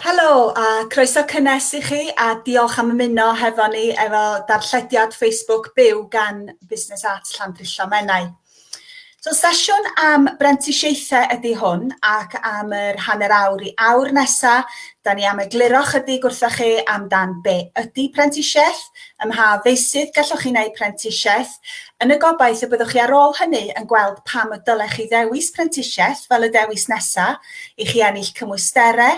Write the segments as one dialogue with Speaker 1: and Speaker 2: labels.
Speaker 1: Helo a croeso cynnes i chi a diolch am ymuno hefo ni efo darllediad Facebook byw gan Busnes Arts Llandrillo Menai. So sesiwn am brentisiaethau ydy hwn ac am yr hanner awr i awr nesa, da ni am egluro chydig wrtha chi amdan be ydy prentisiaeth, ym mha feysydd gallwch chi wneud prentisiaeth, Yn y gobaith y byddwch chi ar ôl hynny yn gweld pam y dylech chi ddewis prentisiaeth fel y dewis nesa', i chi ennill cymwystere,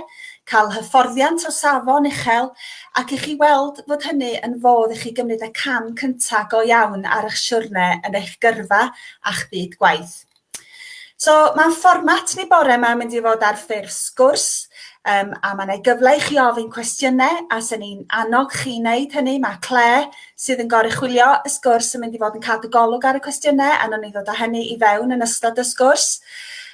Speaker 1: cael hyfforddiant o safon uchel, ac i chi weld fod hynny yn fodd i chi gymryd y cam cynta' go iawn ar 'ych siwrne yn eich gyrfa a'ch byd gwaith. So mae fformat ni bore yma yn mynd i fod ar ffurf sgwrs um, a mae yna gyfle i chi ofyn cwestiynau a sy'n ni'n annog chi wneud hynny. Mae Claire sydd yn goruchwylio y sgwrs yn mynd i fod yn cadw golwg ar y cwestiynau a nhw'n ni ddod â hynny i fewn yn ystod y sgwrs.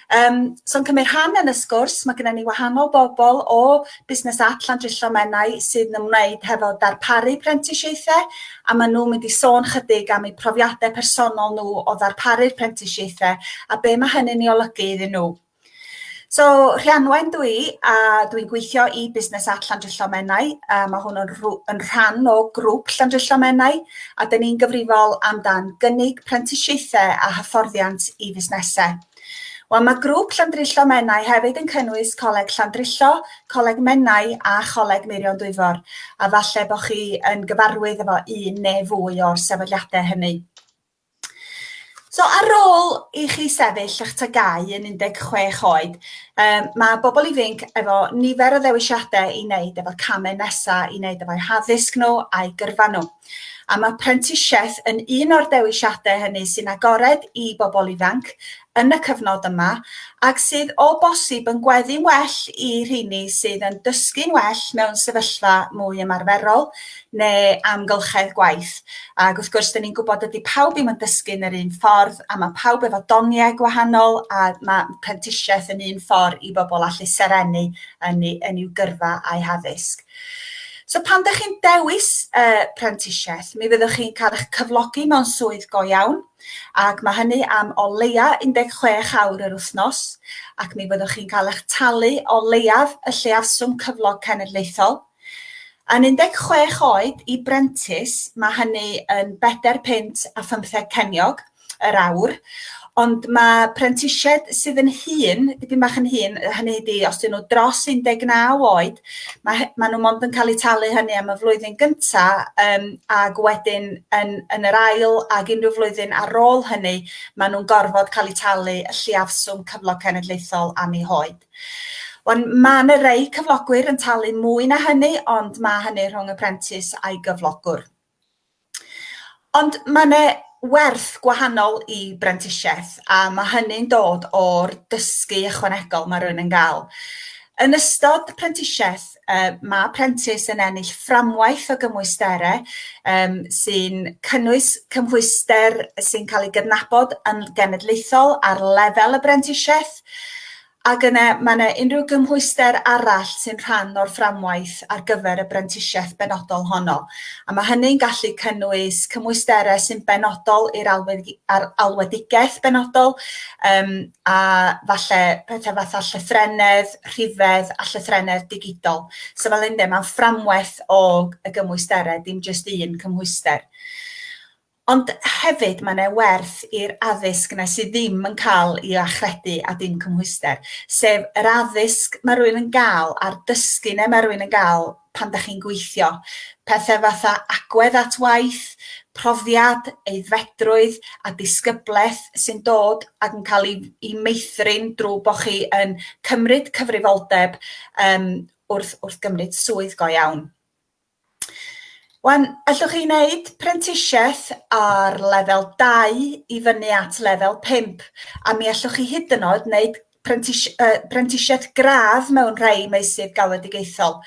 Speaker 1: Um, So'n cymryd rhan yn y sgwrs, mae gennym ni wahanol bobl o busnes at Llandrillo Menai sydd yn ymwneud hefo darparu prentisiaethau a maen nhw'n mynd i sôn chydig am eu profiadau personol nhw o ddarparu'r prentisiaethau a be mae hynny'n ei olygu iddyn nhw. So, Rhianwen dwi, a dwi'n gweithio i busnes at Llandrillo Menai. A mae hwn yn, yn rhan o grŵp Llandrillo Menai, a dyn ni'n gyfrifol amdan gynnig prentisiaethau a hyfforddiant i fusnesau. Wel, mae grŵp Llandrillo Menai hefyd yn cynnwys Coleg Llandrillo, Coleg Menai a Choleg Meirion Dwyfor, a falle bod chi yn gyfarwydd efo un neu fwy o'r sefydliadau hynny. So ar ôl i chi sefyll eich tygau yn 16 oed, um, mae bobl ifanc efo nifer o ddewisiadau i wneud efo camau nesaf i wneud efo'u haddysg nhw a'i gyrfa nhw. A mae prentisiaeth yn un o'r dewisiadau hynny sy'n agored i bobl ifanc yn y cyfnod yma ac sydd o bosib yn gweddu'n well i rheini sydd yn dysgu'n well mewn sefyllfa mwy ymarferol neu amgylchedd gwaith. Ac wrth gwrs, dyn ni'n gwybod dydy pawb ddim yn dysgu'n yr un ffordd a mae pawb efo doniau gwahanol a mae prentisiaeth yn un ffordd i bobl allu serennu yn, yn i'w gyrfa a'u haddysg. So pan ydych chi'n dewis uh, prentisiaeth, mi fyddwch chi'n cael eich cyflogi mewn swydd go iawn, ac mae hynny am o leia 16 awr yr wythnos, ac mi fyddwch chi'n cael eich talu o leiaf y lleaswm cyflog cenedlaethol. Yn 16 oed i brentis, mae hynny yn bedair pint a phymtheg ceniog, yr awr. Ond mae prentisiaid sydd yn hun, dipyn bach yn hun, hynny ydi os dyn nhw dros 19 oed, mae, maen nhw mond yn cael eu talu hynny am y flwyddyn gyntaf um, ac wedyn yn, yn yr ail ac unrhyw flwyddyn ar ôl hynny, maen nhw'n gorfod cael eu talu y lliafswm cyflog cenedlaethol am eu hoed. Wan, mae yna rei cyflogwyr yn talu mwy na hynny, ond mae hynny rhwng y prentis a'i gyflogwr. Ond mae 'na werth gwahanol i brentisiaeth a mae hynny'n dod o'r dysgu ychwanegol mae rhywun yn gael. Yn ystod prentisiaeth yy mae prentis yn ennill fframwaith o gymwysterau yym sy'n cynnwys cymhwyster sy'n cael ei gydnabod yn genedlaethol ar lefel y brentisiaeth. Ac yna, mae yna unrhyw gymhwyster arall sy'n rhan o'r fframwaith ar gyfer y brentisiaeth benodol honno, a mae hynny'n gallu cynnwys cymwysterau sy'n benodol i'r alwedigaeth benodol, um, a falle pethau fatha llythrennedd, rhifedd a llythrennedd digidol. So fel ynddo, mae'n fframwaith o y gymwysterau, dim jyst un cymhwyster. Ond hefyd mae yna werth i'r addysg yna sydd ddim yn cael ei achredu a dim cymhwyster, sef yr addysg mae rhywun yn gael a'r dysgu yna mae rhywun yn gael pan da chi'n gweithio. Pethau fatha agwedd at waith, profiad, aeddfedrwydd a disgyblaeth sy'n dod ac yn cael ei, ei meithrin drwy bod chi yn cymryd cyfrifoldeb um, wrth, wrth gymryd swydd go iawn. Wan, allwch chi wneud prentisiaeth ar lefel 2 i fyny at lefel 5, a mi allwch chi hyd yn oed wneud prentis- yy prentisiaeth gradd mewn rhai meysydd galwedigaethol.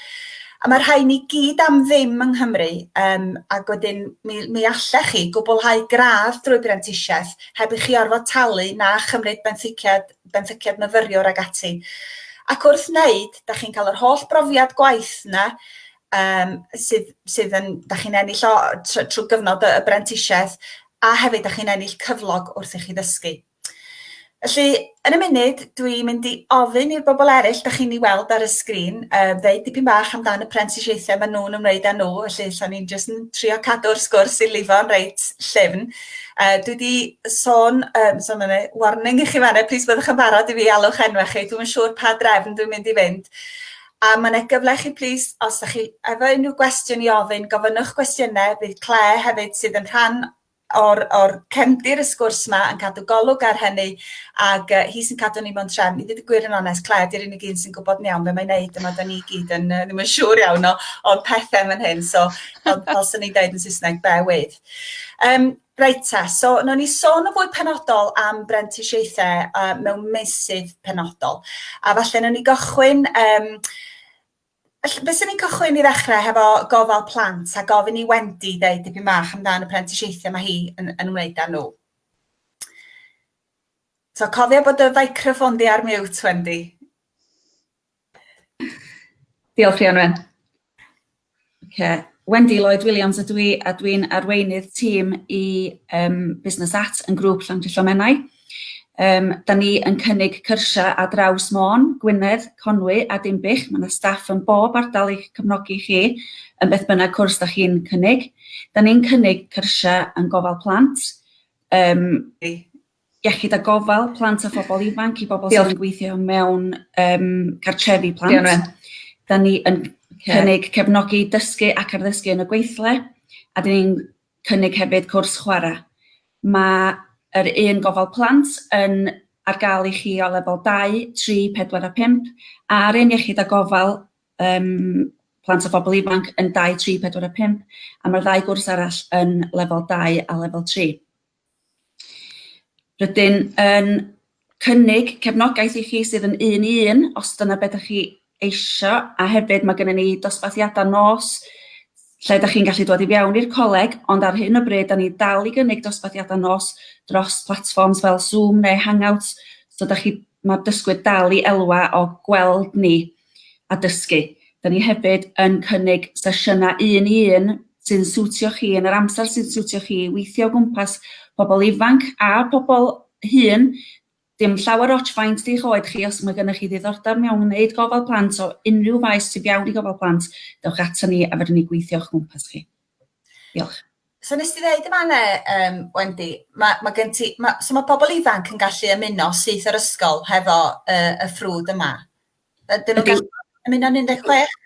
Speaker 1: A mae'r rhain i gyd am ddim yng Nghymru, yym ac wedyn mi mi allech chi gwblhau gradd drwy brentisiaeth heb i chi orfod talu na chymryd benthyciad benthyciad myfyriwr ac ati. Ac wrth wneud, da chi'n cael yr holl brofiad gwaith yna um, sydd, sydd yn, da chi'n ennill o trwy gyfnod y brentisiaeth a hefyd da chi'n ennill cyflog wrth i chi ddysgu. Felly, yn y munud, dwi'n mynd i ofyn i'r bobl eraill, da chi'n ei weld ar y sgrin, uh, ddeud dipyn bach amdano y prentisiaethau maen nhw'n ymwneud â nhw, felly lle ni'n jyst yn trio cadw'r sgwrs i lifo'n reit llyfn. Uh, dwi wedi sôn, um, sôn yn ei warning i chi fanna, plis byddwch yn barod i fi alwch enwau chi, dwi'n siŵr pa drefn dwi'n mynd i fynd. A mae yna gyfle chi plis, os ydych chi efo unrhyw gwestiwn i ofyn, gofynnwch gwestiynau, bydd Claire hefyd sydd yn rhan o'r, or cefndir y sgwrs yma yn cadw golwg ar hynny ac uh, hi sy'n cadw ni mewn trefn. I ddweud gwir yn onest, Claire, di'r unig un sy'n gwybod yn iawn beth mae'n neud yma, da ni gyd yn, uh, ddim yn siŵr iawn o, o'r pethau fan hyn, so fel, fel sy'n ei dweud yn Saesneg, bear with. Um, reit ta, so nawn ni sôn yn fwy penodol am brentisiaethau uh, mewn meysydd penodol. A falle nawn ni gychwyn... Um, Fe sy'n ni'n cychwyn i ddechrau hefo gofal plant a gofyn i Wendy ddeud dipyn bach amdano'r prentisiaethau mae hi yn, yn wneud â nhw. So cofio bod y feicroffon di ar mute, Wendy. Diolch Rhianwen. Oce, Wendy Lloyd Williams ydw i a dwi'n arweinydd tîm i um, Business At yn grŵp Llandrillo Menai. Um, da ni yn cynnig cyrsiau a draws Môn, Gwynedd, Conwy a Dimbych. Mae yna staff yn bob ardal i'ch cefnogi chi yn beth bynnag cwrs da chi'n cynnig. Da ni'n cynnig cyrsiau yn gofal plant, um, iechyd a gofal plant a phobl ifanc i bobl sydd yn gweithio mewn um, cartrefi plant. Diolch. Da ni yn cynnig cefnogi dysgu ac arddysgu yn y gweithle a dyn ni'n cynnig hefyd cwrs chwarae. Mae yr un gofal plant yn ar gael i chi o lefel 2, 3, 4 a 5 a'r un iechyd a gofal um, plant a phobl ifanc yn 2, 3, 4 a 5 a mae'r ddau gwrs arall yn lefel 2 a lefel 3. Rydyn yn cynnig cefnogaeth i chi sydd yn un i un os dyna be' 'dach chi eisio a hefyd ma' gynnon ni dosbarthiada nos lle 'dach chi'n gallu dod i fewn i'r coleg ond ar hyn o bryd 'dan ni dal i gynnig dosbarthiada nos dros platfforms fel Zoom neu Hangouts so 'dach chi ma'r dysgwyr dal i elwa o gweld ni. a dysgu. Da ni hefyd yn cynnig sesiynau un i un sy'n siwtio chi yn yr amser sy'n siwtio chi, weithio o gwmpas pobl ifanc a pobl hŷn. Dim llawer ots faint di'ch oed chi, os mae gennych chi ddiddordeb mewn gwneud gofal plant o unrhyw faes sy'n iawn i gofal plant, dewch ato ni a fydden ni gweithio o'ch gwmpas chi. Diolch. So nes ti ddeud yma ne, um, Wendy, mae, ma gen ti, ma, so mae pobl ifanc yn gallu ymuno syth yr ysgol hefo uh, y ffrwd yma? Ydyn nhw'n gallu ymuno yn 16?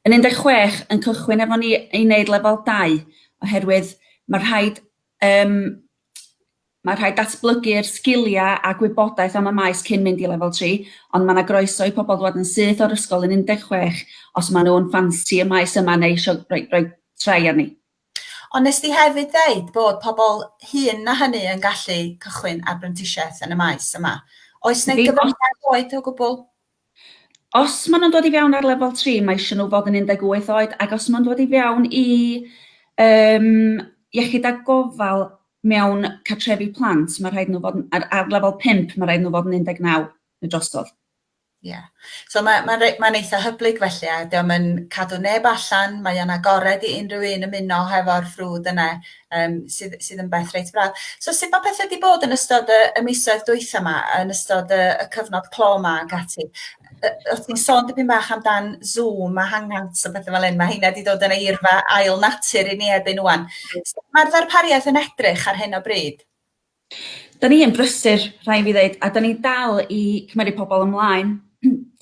Speaker 1: Yn 16 yn cychwyn efo ni i wneud lefel 2 oherwydd mae rhaid um, mae rhaid datblygu'r sgiliau a gwybodaeth am y maes cyn mynd i lefel 3, ond mae yna groeso i pobl ddod yn syth o'r ysgol yn 16 os maen nhw'n ffansi y maes yma neu eisiau rhoi, rhoi trai arni. Ond wnest ti hefyd ddeud bod pobl hŷn na hynny yn gallu cychwyn ar brentisiaeth yn y maes yma. Oes 'na gyfyngiad oed o gwbl? Os maen nhw'n dod i fewn ar lefel 3, mae eisiau nhw fod yn 18 oed, ac os maen nhw'n dod i fewn i um, iechyd a gofal mewn cartrefi plant, mae rhaid nhw fod yn, ar, ar lefel 5, mae rhaid nhw fod yn 19 neu drosodd. Ie. So ma' ma'n rei- ma'n eitha hyblyg felly a 'di o'm yn cadw neb allan, mae o'n agored i unrhyw un ymuno hefo'r ffrwd yne yym sydd sydd yn beth reit braf. So sut ma' pethe 'di bod yn ystod y y misoedd dwytha 'ma yn ystod y y cyfnod clo 'ma ac ati? Yy o' ti'n sôn dipyn bach amdan Zoom a Hangouts a pethe fel 'yn ma' heina 'di dod yn eirfa ail natur i ni erbyn ŵan. Sut ma'r ddarpariaeth yn edrych ar hyn o bryd? Dan ni yn brysur, rhaid fi ddeud, a dan ni'n dal i cymeryd pobl ymlaen,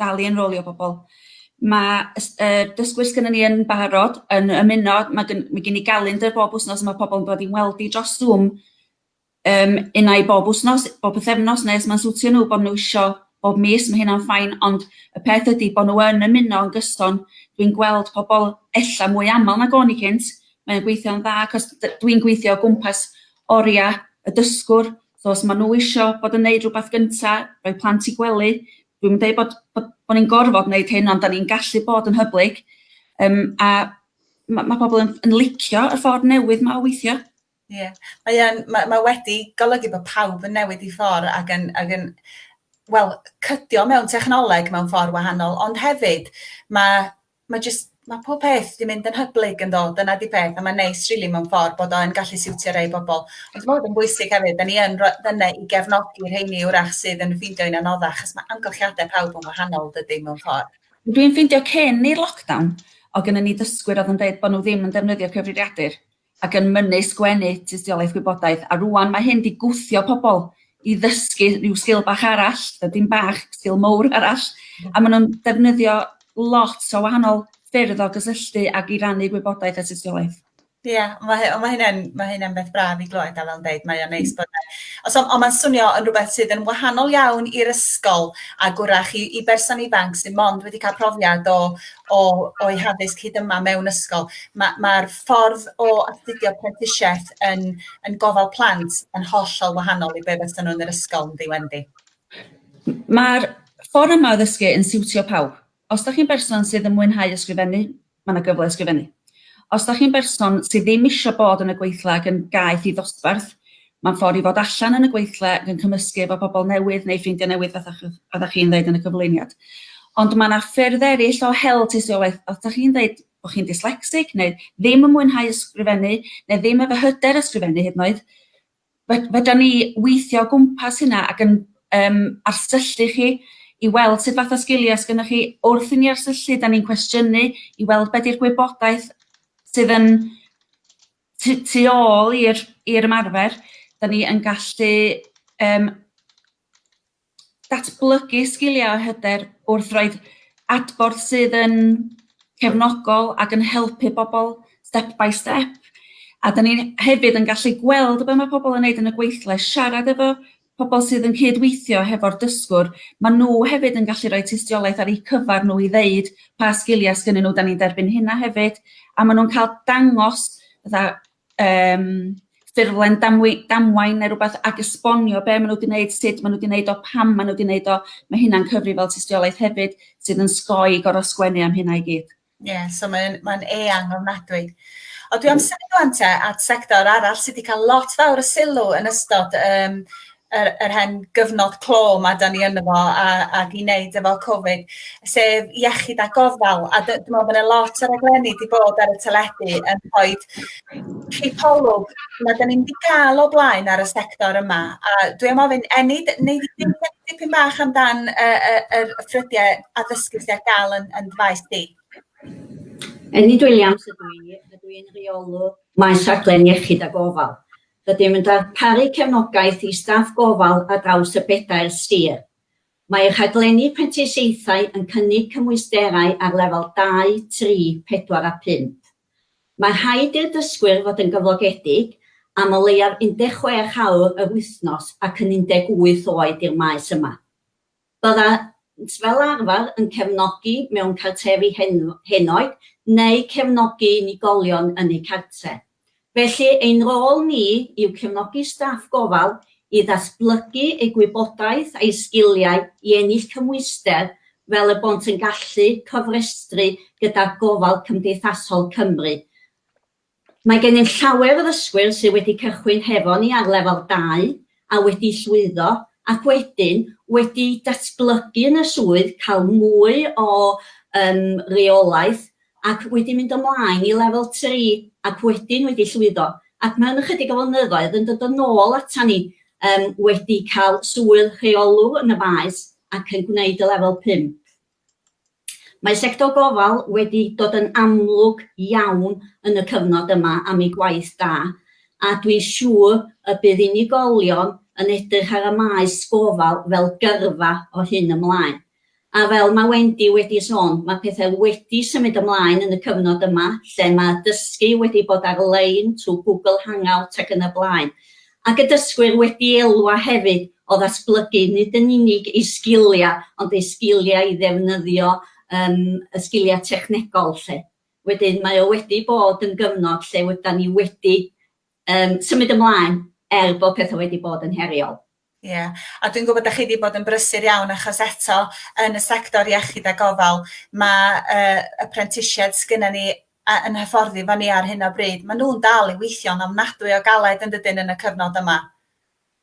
Speaker 1: dal i enrolio pobl. Ma' y s- yr dysgwyr sgynnon ni yn barod yn ymuno ma' gyn- ma' gin i galendr bob wsnos a ma' pobl yn dod i'n weld i dros Zoom yym unai bob wsnos, bob pythefnos ne' os ma'n swtio nw bo' nw isio bob mis ma' hynna'n fine ond y peth ydi bo' nw yn ymuno yn gyson dwi'n gweld pobol ella mwy amal nag o'n i cynt mae o'n gweithio'n dda 'c'os d- dwi'n gweithio o gwmpas Oria, y dysgwr, so os ma' nhw isio bod yn neud rwbath gynta, rhoi plant i gwely, dwi'm yn deud bod bod bo' ni'n gorfod neud hyn ond 'dan ni'n gallu bod yn hyblyg yym a ma' ma' pobol yn yn licio y ffordd newydd 'ma o weithio. Ie. Mae yn ma' ma' wedi golygu bo' pawb yn newid 'u ffor ag yn ag yn wel cydio mewn technoleg mewn ffor wahanol ond hefyd ma' ma' jyst ma' pob peth 'di mynd yn hyblyg yndo? Dyna 'di peth a ma'n neis rili mewn ffor bod o yn gallu siwtio rei bobol. Ond ma' 'wn yn bwysig hefyd 'dan ni yn ro- fynna i gefnogi rheini 'w'rach sydd yn ffindio hi'n anoddach 'chos ma' amgylchiade pawb yn wahanol dydi mewn ffor. Dwi'n ffindio cyn i'r lockdown o' gynnon ni ddysgwyr odd yn deud bo' n'w ddim yn defnyddio cyfrifiadur ac yn mynnu sgwennu tystiolaeth gwybodaeth a rŵan mae hyn 'di gwthio pobl i ddysgu rhyw sgil bach arall, yy dim bach, sgil mowr arall a maen nhw'n defnyddio lot o wahanol ffyrdd o gysylltu ac i rannu gwybodaeth a tystiolaeth. Ie, yeah, mae hy- ma' hynna'n ma' hynna'n beth braf i glywed a fel yn deud mae o'n neis bod e. Os on' on' ma'n swnio yn rhywbeth sydd yn wahanol iawn i'r ysgol a gwrach i i berson ifanc sydd mond wedi cael profiad o o o'i haddysg hyd yma mewn ysgol. Ma' ma'r ffordd o astudio prentisiaeth yn yn gofal plant yn hollol wahanol i be' fysa nhw yn yr ysgol yndi Wendy? Mae'r ffordd yma o ddysgu yn siwtio pawb. Os da chi'n berson sydd yn mwynhau ysgrifennu, mae yna gyfle i ysgrifennu. Os da chi'n berson sydd ddim eisiau bod yn y gweithle ac yn gaeth i ddosbarth, mae'n ffordd i fod allan yn y gweithle ac yn cymysgu efo pobl newydd neu ffrindiau newydd fatha chi, chi'n ddeud yn y cyflwyniad. Ond mae yna ffyrdd eraill o hel tystiolaeth, os da chi'n ddeud bod chi'n dyslecsig neu ddim yn mwynhau ysgrifennu neu ddim efo hyder ysgrifennu hyd yn oed, fedran ni weithio o gwmpas hynna ac yn um, arsyllu chi i weld sut fath o sgiliau sgynnoch chi. Wrth i ni arsyllu, da ni'n cwestiynu i weld beth yw'r gwybodaeth sydd yn tu, tu ôl i'r ymarfer. Da ni yn gallu um, datblygu sgiliau a hyder wrth roi'r adborth sydd yn cefnogol ac yn helpu bobl step by step. A da ni hefyd yn gallu gweld be mae pobl yn neud yn y gweithle, siarad efo pobl sydd yn cyd-weithio hefo'r dysgwr, mae nhw hefyd yn gallu rhoi tystiolaeth ar eu cyfer nhw i ddeud pa sgiliau sgynnyn nhw, da ni'n derbyn hynna hefyd, a maen nhw'n cael dangos fatha um, ffurflen damwy- damwain neu rhywbeth ac esbonio be' ma' nw 'di neud, sut ma' nw 'di neud o, pam ma' nw 'di neud o, ma' hynna'n cyfri fel tystiolaeth hefyd sydd yn sgoi gor'o' sgwennu am hynna i gyd. Ie, yeah, so mae'n mae'n eang ofnadwy. O, dwi am symud ŵan te at sector arall sydd wedi cael lot fawr o sylw yn ystod um, yr yr hen gyfnod clo 'ma 'dan ni ynddo fo a ac i neud efo Cofid sef iechyd a gofal a dy- dwi me'wl bo' 'na lot o raglenni 'di bod ar y teledu yn rhoid cipolwg na 'dan ni'm 'di ga'l o blaen ar y sector yma a dwi am ofyn Enid wnei di ddeud dipyn dipyn bach amdan yy yy yr y ffrydiau addysgu sy ar ga'l yn yn dy faes di? Enid Williams ydw i a dwi'n rheolwr maes rhaglen iechyd a gofal. Rydym yn darparu cefnogaeth i staff gofal ar draws y bedair sir. Mae rhaglenni prentisiaethau yn cynnig cymwysterau ar lefel dau, tri, pedwar a phump. Mae rhaid i'r dysgwyr fod yn gyflogedig am o leiaf 16 awr yr wythnos ac yn 18 oed i'r maes yma. Byddant fel arfer yn cefnogi mewn cartrefi henoed neu cefnogi unigolion yn eu cartref. Felly, ein rôl ni yw cefnogi staff gofal i ddatblygu eu gwybodaeth a'u sgiliau i ennill cymhwyster fel y bont yn gallu cofrestru gyda Gofal Cymdeithasol Cymru Mae gennym llawer o ddysgwyr sydd wedi cychwyn hefo ni ar Lefel dau a wedi llwyddo ac wedyn wedi datblygu yn y swydd, cael mwy o yym reolaeth ac wedi mynd ymlaen i Lefel tri ac wedyn wedi llwyddo ac mewn ychydig o flynyddoedd yn dod yn ôl ata ni yym wedi cael swydd rheolwr yn y faes ac yn gwneud y Lefel pump. Mae sector gofal wedi dod yn amlwg iawn yn y cyfnod yma am ei gwaith da, a dwi'n siŵr y bydd unigolion yn edrych ar y maes gofal fel gyrfa o hyn ymlaen. A fel mae Wendy wedi sôn, mae pethau wedi symud ymlaen yn y cyfnod yma lle mae dysgu wedi bod ar-lein trwy Google Hangout ac yn y blaen, Ac y dysgwyr wedi elwa hefyd o ddatblygu nid yn unig eu sgiliau ond eu sgiliau i ddefnyddio yym y sgiliau technegol 'lly. Wedyn mae o wedi bod yn gyfnod lle ydan ni wedi yym symud ymlaen er bod petha wedi bod yn heriol. Ie a dwi'n gwybod 'dach chi 'di bod yn brysur iawn achos eto yn y sector iechyd a gofal ma' yy y prentisiaid sgynnon ni a yn hyfforddi efo ni ar hyn o bryd, maen nhw'n dal i weithio'n ofnadwy o galed yn dydyn yn y cyfnod yma.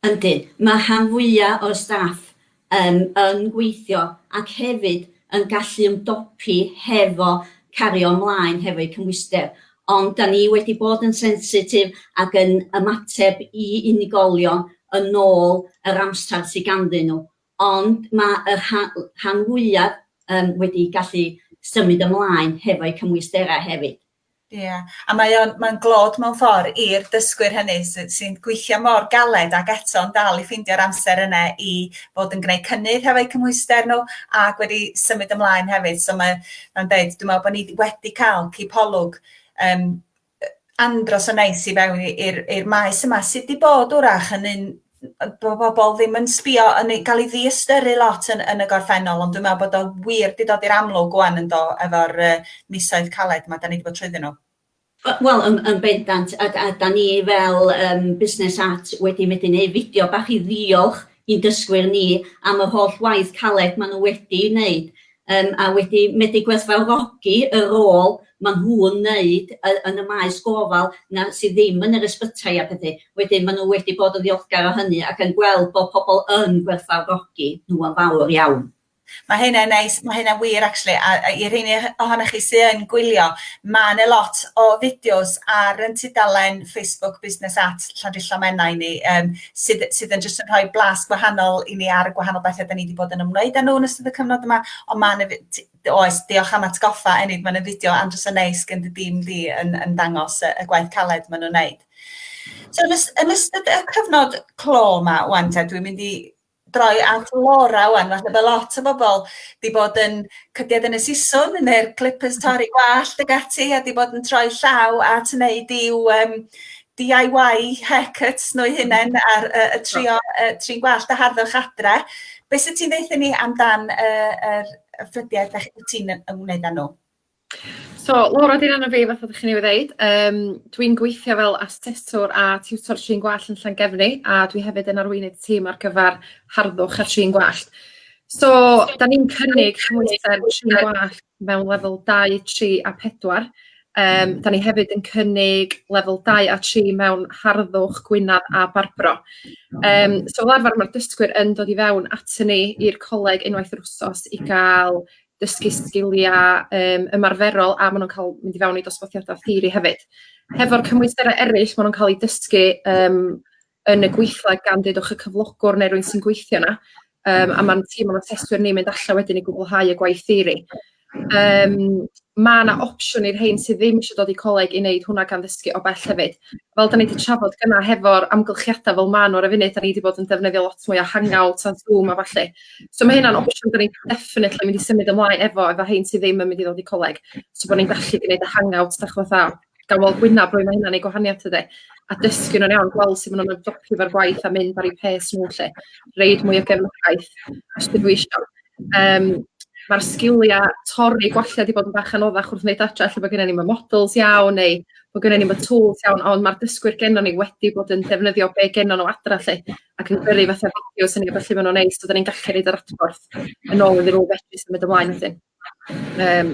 Speaker 1: Yndyn, mae rhan fwyaf o'r staff yn yn gweithio ac hefyd yn gallu ymdopi hefo cario ymlaen hefo'u cymhwyster, ond da ni wedi bod yn sensitif ac yn ymateb i unigolion yn ôl yr amser sydd ganddyn nhw. Ond mae y rhan fwyaf yym wedi gallu symud ymlaen hefo'u cymwysterau hefyd. Ie, a mae o'n mae'n glod mewn ffordd i'r dysgwyr hynny sy'n sy gweithio mor galed ac eto'n dal i ffeindio'r amser yna i fod yn gwneud cynnydd hefo'u cymhwyster nhw ac wedi symud ymlaen hefyd. So mae'n mae'n deud dwi'n meddwl bod ni wedi cael cipolwg um, andros o neis i fewn i i'r i'r maes yma sydd 'di bod 'w'rach yn un yy bo' bobol ddim yn sbio yn ei ga'l 'i ddiystyru lot yn yn y gorffennol ond dwi me'wl bod o wir 'di dod i'r amlwg ŵan yndo efo'r yy misoedd caled 'ma 'dan ni 'di bod trwyddyn nhw. We- wel yn yn bendant a d- a 'dan ni fel yym busnes at wedi medru neu' fideo bach i ddiolch i'n dysgwyr ni am yr holl waith caled maen nhw wedi ei wneud yym a wedi medru gwerthfawrogi y rôl maen nhw'n wneud yy yn y maes gofal 'na sydd ddim yn yr ysbytai a phethe. Wedyn maen nhw wedi bod yn ddiolchgar o hynny ac yn gweld bod pobl yn gwerthfawrogi nhw yn fawr iawn. Mae hynna'n neis, mae hynna'n wir actually, a a i rheiny oho- ohonoch chi sy yn gwylio, mae 'na lot o fideos ar ein tudalen Facebook Busnes at Llandrillo Menai ni yym sydd sydd yn jyst yn rhoi blas gwahanol i ni ar y gwahanol bethe 'dan ni 'di bod yn ymwneud â nhw yn ystod y cyfnod yma, ond ma' 'na fi- t- oes, diolch am atgoffa Enid, ma' 'na fideo andros o neis gen dy dîm di yn yn dangos y y gwaith caled ma' nhw'n neud. So yn ys- yn ystod y cyfnod clo 'ma ŵan te dwi'n mynd i droi at Laura ŵan, falle bod lot o bobl wedi bod yn cydied yn y siswrn neu'r clippers torri gwallt ag ati a wedi bod yn troi llaw at wneud i'w um, DIY haircuts nhw hunain ar uh, y trio, uh, trin gwallt a harddwch adre. Be sydd ti'n ddeitha ni amdan uh, yr ffrydiau ydych ti'n ymwneud â nhw? So, Laura, dyna na fi, fath o ddech chi'n ei wneud. Um, dwi'n gweithio fel aseswr a tiwtor trin gwallt yn Llangefni, a dwi hefyd yn arweinydd tîm ar gyfer harddwch a trin gwallt. So, da ni'n cynnig hwyster trin gwallt mewn lefel 2, 3 a 4. Um, da ni hefyd yn cynnig lefel 2 a 3 mewn harddwch, gwynaf a barbro. Um, so fel arfer mae'r dysgwyr yn dod i fewn at ni i'r coleg unwaith yr wsos i gael dysgu sgilia um, ymarferol a maen nhw'n cael mynd i fewn i dosbarthiadau theori hefyd. Hefo'r cymwysterau eraill, maen nhw'n cael eu dysgu um, yn y gweithle gan ddedwch y cyflogwr neu rwy'n sy'n gweithio yna, um, a mae'n tîm o'n aseswyr ni'n mynd allan wedyn i gwblhau y gwaith theori. Um, mae yna opsiwn i'r rhain sydd ddim eisiau dod i coleg i wneud hwnna gan ddysgu o bell hefyd. fel 'dan ni 'di trafod gynna' hefo'r amgylchiada' fel ma' n'w ar y funud 'dan ni 'di bod yn defnyddio lot mwy o Hangouts a Zoom a ballu. So ma' hynna'n opsiwn 'dan ni'n definitely mynd i symud ymlaen efo efo rhein sy ddim yn mynd i ddod i coleg so bo' ni'n gallu gneud y Hangouts dych ch'mod a ga'l weld gwynab rywun ma' hynna'n neud gwahaniath tydi? A dysgu nhw'n iawn gweld sut ma' nw'n ymdopi efo'r gwaith a mynd ar eu pace n'w 'lly. Roid mwy o gefnogaeth os 'dyn nhw isio. Yym ma'r sgilia torri gwallt 'di bod yn bach anoddach wrth neud adra lle bo' gennyn ni'm y models iawn neu bo' gennyn ni'm y tŵls iawn ond ma'r dysgwyr gennon ni wedi bod yn defnyddio be' gennon n'w adra 'lly ac yn gyrru fatha fideos a ballu ma' nw'n neud so 'dan ni'n gallu roid yr adborth yn ôl iddyn n'w fedru symud ymlaen wedyn. Yym.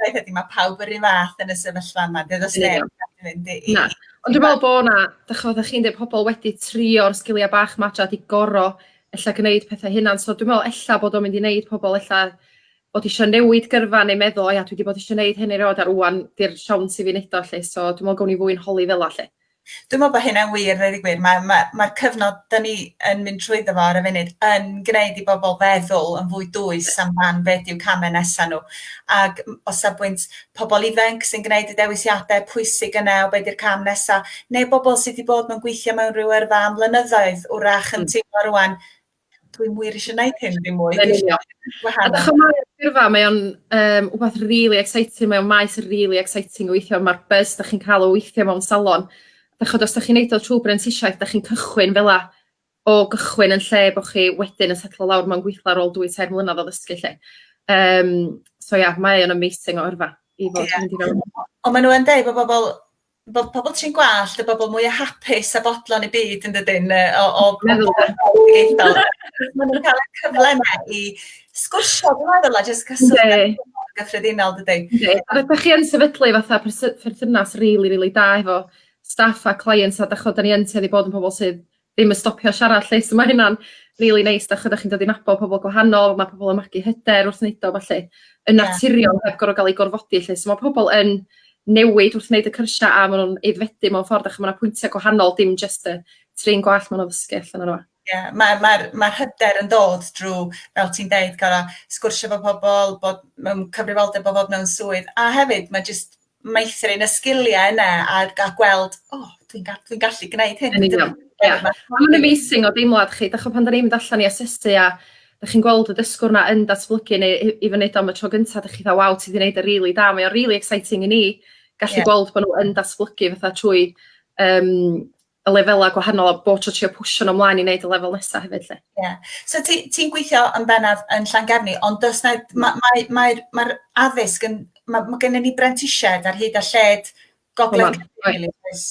Speaker 1: Roedd ydy, mae pawb yr un fath yn y sefyllfa yma, dyna os neb yn mynd i... Na, ond dwi'n meddwl bod yna, da chi'n meddwl, chi'n dweud pobl wedi trio'r sgiliau bach matra di goro ella gwneud pethau hynna'n, so dwi'n meddwl ella bod o'n mynd i wneud pobl ella bod eisiau newid gyrfa neu meddwl, o ia, dwi wedi bod eisiau gwneud hyn i roed ar wwan, di'r siawns i fi wneud o lle, so dwi'n meddwl gawn ni fwy'n holi fel lle. Dwi'n meddwl bod hynna'n wir, rhaid i gwir. Mae'r ma, ma, cyfnod da ni yn mynd trwyddo fo ar y funud yn gwneud i bobl feddwl yn fwy dwys amdan beth yw camau nesaf nhw. Ac o safbwynt pobl ifanc sy'n gwneud y dewisiadau pwysig yna o beth yw'r cam nesaf, neu bobl sydd wedi bod mewn gweithio mewn rhyw yrfa am flynyddoedd, wrach yn mm. teimlo rwan, dwi wir eisiau gwneud hyn ddim mwy. Yn union. A dych chi'n meddwl, gyrfa, mae o'n um, wbeth really exciting, mae o'n maes really exciting o weithio, mae'r buzz da chi'n cael o weithio mewn salon. Da chod, os da chi'n neud o trwy brentisiaeth, da chi'n cychwyn fel la o gychwyn yn lle bod chi wedyn yn setlo lawr mewn gweithio ar ôl dwy tair mlynedd o ddysgu lle. Um, so ia, yeah, mae o'n amazing o yrfa i fod yeah. mynd i fewn. Ond maen nhw'n deud bod bobl bod pobl trin gwallt y bobl mwy o hapus a bodlon i byd yn dydyn o, o meddwl maen nhw'n cael y cyfle yna i sgwrsio dwi'n meddwl a jyst cyswllt gyffredinol dydy. Yndi. A ydych chi yn sefydlu fatha perthynas rili really, really da efo staff a clients a dach chod da ni yn tueddu bod yn pobl sydd ddim yn stopio siarad 'lly so ma' hynna'n rili neis 'dach ch'od dach chi'n dod i nabod pobol gwahanol ma' pobol yn magu hyder wrth neud o felly yn naturiol heb gor'o' ga'l 'u gorfodi 'lly so ma' pobol yn newid wrth neud y cyrsia a ma' nw'n aeddfedu mewn ffordd dach ma' 'na pwyntia gwahanol dim jyst y trin gwallt ma' nw'n ddysgu allan onno fo. Ie ma' ma'r ma'r hyder yn dod drw fel ti'n deud gor'o' sgwrsio 'fo pobol bod mewn cyfrifoldeb o fod mewn swydd a hefyd ma' jyst meithrin y sgiliau yna a, a gweld, o, oh, dwi'n ga, dwi gallu gwneud hyn. Yn union, ie. Yeah. Mae'n amazing o deimlad chi, dych chi'n pan da ni'n mynd allan i asesu a da chi'n gweld y dysgwr na yn datblygu neu i, i fyny am y tro gyntaf, dych chi'n dda, waw, ti wedi gwneud y e rili really da. Mae o'n rili really exciting i ni gallu yeah. gweld bod nhw yn datblygu fatha trwy um, y lefelau gwahanol a bob tro trio pwsio nhw mlaen i wneud y lefel nesaf hefyd 'lly. Ie. So ti ti'n gweithio yn bennaf yn Llangefni ond does 'na ma' mae mae'r mae'r addysg yn ma' ma' gynnon ni brentisiaid ar hyd a lled gogledd Cymru oes?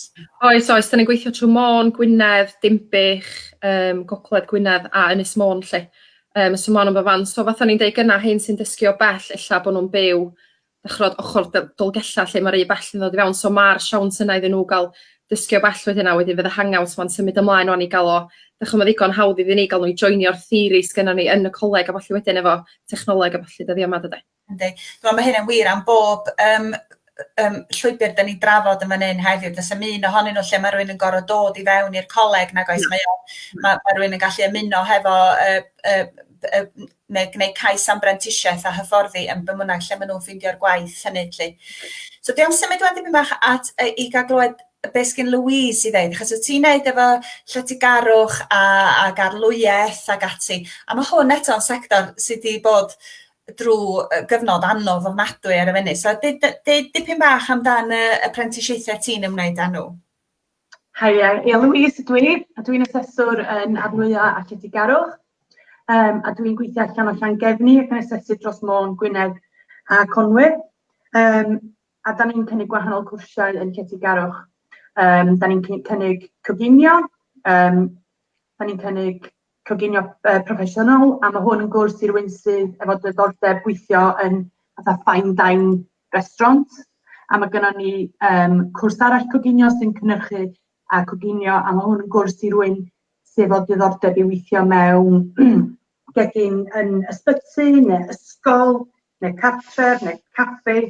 Speaker 1: Oes oes 'dan ni'n gweithio trwy Môn, Gwynedd, Dinbych, um, gogledd Gwynedd a Ynys Môn 'lly. Um, so ma' nhw'n fy fan so fatha ni'n deud gyna hyn sy'n dysgu o bell ella bod nhw'n byw ch'od ochor Dol- Dolgellau lle ma'r u- bell yn ddod i fewn so ma'r siawns yna iddyn nhw ga'l dysgu o bell wedyn a wedyn fydd y hang-out 'ma'n symud ymlaen ŵan i ga'l o dych 'o' ma' ddigon hawdd iddyn ni ga'l n'w i joinio'r theori sgynnon ni yn y coleg a ballu wedyn efo technoleg a ballu dyddia' 'ma dyde? Yndi. Dwi me'wl ma' hyn yn wir am bob yym yy yym llwybyr 'dan ni'n drafod yn fan 'yn heddiw do's 'im un ohonyn nw lle ma' rywun yn gor'o' dod i fewn i'r coleg nag oes mae o ma' ma' rywun yn gallu ymuno hefo y y y neu gwneud cais am brentisiaeth a hyfforddi yn bymwnaig lle maen nhw'n ffeindio'r gwaith hynny 'lly. So dwi am symud wan dipyn bach at yy i gael glywed be' sgyn Louise i ddeud achos wyt ti'n neud efo lletygarwch a ac arlwyaeth ac ati a mae hwn eto'n sector sydd wedi bod drwy gyfnod anodd ofnadwy ar y funud. So dweud dipyn bach amdan y y prentisiaethau ti'n ymwneud â nhw. Haia, ie Louise ydw i, a dwi'n aseswr yn Arnwya a Lletygarwch, um, a dwi'n gweithio allan o Llangefni ac yn asesu dros Môn, Gwynedd a Conwy. Um, a da ni'n cynnig gwahanol cwrsiau yn Lletygarwch. Um, da ni'n cynnig coginio, um, da ni'n cynnig coginio proffesiynol a mae hwn yn gwrs i rywun sydd efo diddordeb gweithio yn fatha fine dine restaurant a mae gennym ni um, cwrs arall coginio sy'n cynnyrchu a coginio a mae hwn yn gwrs i rywun sydd efo diddordeb i weithio mewn gegin yn ysbyty neu ysgol neu cartref, neu caffi.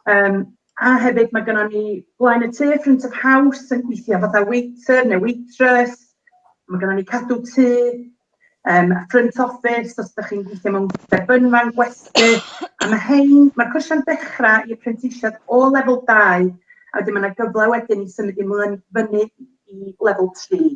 Speaker 1: Um, a hefyd mae gennym ni blaen y tŷ, front of house, yn gweithio fatha waiter neu waitress. Mae gennym ni cadw tŷ, um, front office, os ydych chi'n gweithio mewn debynfan, gwesty. A mae hein, mae'r cwrsiau'n dechrau i apprentisiad o lefel 2, a wedyn mae yna gyfle wedyn i symud i mlaen fyny i lefel 3.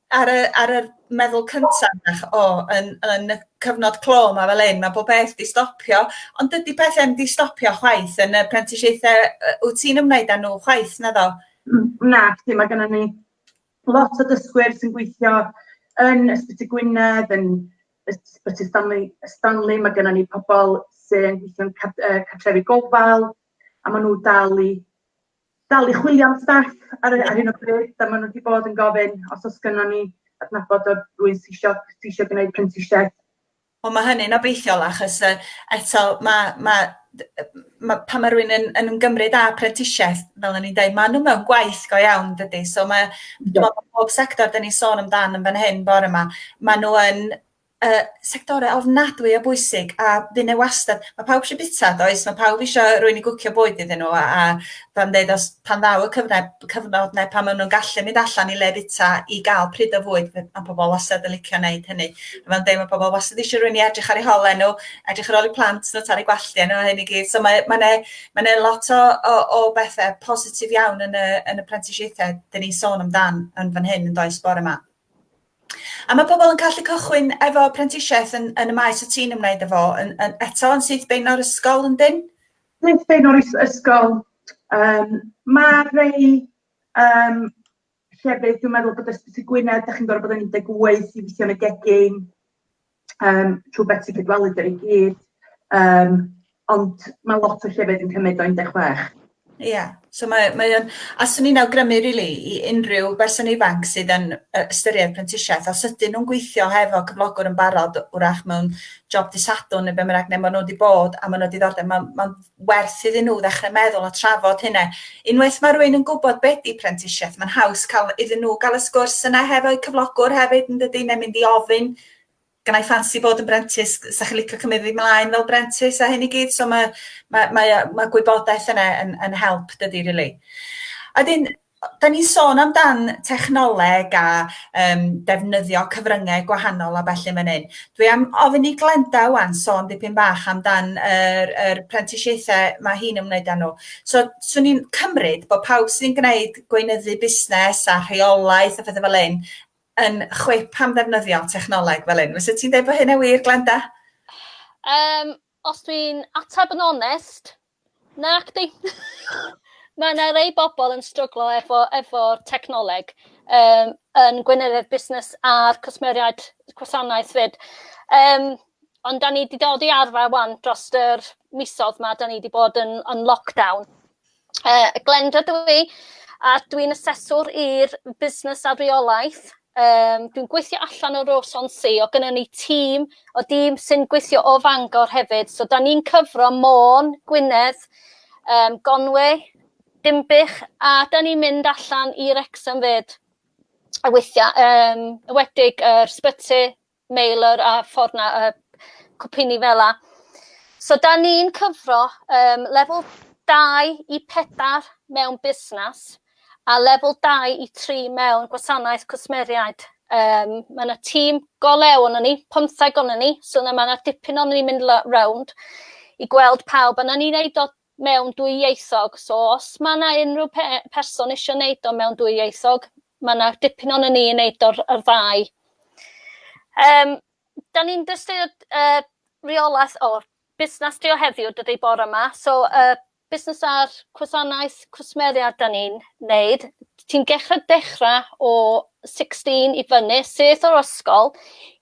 Speaker 1: Ar y ar yr meddwl cynta' 'na ch- o yn yn y cyfnod clo 'ma fel 'yn ma' bob peth 'di stopio ond dydi pethe'm 'di stopio chwaith yn y prentisiaethe yy wt ti'n ymwneud â nhw chwaith naddo? Hmm nacdi ma' gynnon ni lot o dysgwyr sy'n gweithio yn Ysbyty Gwynedd yn Ysbyty Stanley Stanley ma' gynnon ni pobol sy'n gweithio'n cad- yy cartrefi gofal a ma' nhw dal i dal i chwilio am staff ar, ar hyn o bryd, a maen nhw wedi bod yn gofyn os oes gynnon ni adnabod o'r rwy'n sy'n eisiau, sy eisiau gwneud prentisiaeth Wel mae hynny'n obeithiol achos uh, eto mae, mae ma, pan mae rhywun yn, yn ymgymryd â prentisiaeth, fel o'n i'n dweud, maen nhw mewn gwaith go iawn dydy. So mae, yeah. bob sector dyn ni'n sôn amdan yn fan hyn bore yma, maen nhw yn y sectorau ofnadwy o bwysig a fy' 'na wastad... Mae pawb eisiau bwyta does, mae pawb eisiau rhywun i gwcio bwyd iddyn nhw a a fel yn deud os pan ddaw y cyfnau cyfnod 'na pan maen nhw'n gallu mynd allan i le bwyta i gael pryd o fwyd fe- ma' pobl wastad yn licio wneud hynny. A fel yn deud ma' pobl wastad eisiau rhywun i edrych ar eu hole nhw, edrych ar ôl eu plant nhw, talu gwalltie nhw a hyn i gyd so mae mae 'na mae 'na lot o o o bethe positif iawn yn y yn y prentisiaethau 'dyn ni'n sôn amdan yn fan hyn yn does bore 'ma? A mae pobl yn gallu cychwyn efo prentisiaeth yn, yn y maes o ti'n ymwneud efo, yn, yn, eto yn syth bein o'r ysgol yn dyn? Syth bein o'r ysgol. Um, mae rhai um, llefydd, dwi'n meddwl bod ysbyty Gwynedd, da chi'n gorfod bod yn 18 i weithio yn y gegin. um, trwy beth sy'n cydwelu dyn i gyd, um, ond mae lot o llefydd yn cymryd o 16. Ie, yeah. so mae, mae o'n, a swn i'n awgrymu rili really, i unrhyw berson ifanc sydd yn ystyried prentisiaeth, os ydyn nhw'n gweithio hefo cyflogwr yn barod, wrach mewn job disadwn neu be bynnag, neu maen nhw wedi bod a maen nhw wedi ddordeb, mae'n ma werth iddyn nhw ddechrau meddwl a trafod hynna. Unwaith mae rhywun yn gwybod be di prentisiaeth, mae'n haws cael iddyn nhw gael y sgwrs yna hefo'u cyflogwr hefyd yn dydy, neu mynd i ofyn, gynnau ffansi bod yn brentis, sa chi'n licio cymryd fi mlaen fel brentis a hyn i gyd, so mae, mae, mae, mae gwybodaeth yna yn, yn help dydy, really. A dyn, da ni'n sôn amdan technoleg a um, defnyddio cyfryngau gwahanol a felly mae'n hyn. Dwi am ofyn i Glenda wan sôn dipyn bach amdan yr, yr prentisiaethau mae hi'n ymwneud â nhw. So, swn i'n cymryd bod pawb sy'n gwneud gweinyddu busnes a rheolaeth a phethau fel hyn yn chwip am ddefnyddio technoleg fel hyn. Fysa ti'n dweud bod hynna wir, Glenda? Um, Os dwi'n ateb yn onest, nac 'di. Ma' 'na rei bobl yn stryglo efo efo'r technoleg um, yn gweinyddiaeth busnes a'r cwsmeriaid gwasanaeth fyd. Um, ond da ni wedi dod i arfer wan dros yr misodd ma, da ni wedi bod yn, yn lockdown. Uh, Glenda dwi, i, a dwi'n aseswr i'r busnes a reolaeth. Um, dwi'n gweithio allan o Roson Si, o gynnyn ni tîm o dîm sy'n gweithio o Fangor hefyd. So, da ni'n cyfro Môn, Gwynedd, um, Gonwe, Dimbych, a da ni'n mynd allan i'r Exam fyd. A weithiau, um, wedig yr uh, sbyty, mailer a ffordd na uh, cwpini fel la. So da ni'n cyfro um, lefel 2 i 4 mewn busnes a lefel 2 i 3 mewn gwasanaeth cwsmeriaid. Um, mae yna tîm go lew o'n ni, pymtheg o'n ni, so yna mae yna dipyn o'n ni'n mynd round i gweld pawb. Yna ni'n neud o mewn dwyieithog so os ma' 'na unrhyw pe- person isio neud o mewn dwyieithog ma' 'na dipyn o'n ni yn neud o'r yr ddau. Yym 'dan ni'n dystio yy reolaeth o busnas trio heddiw dydi bore 'ma so yy busnas ar cwsanaeth cwsmeriaid 'dan ni'n neud ti'n gechra dechra o sixteen i fyny syth o'r ysgol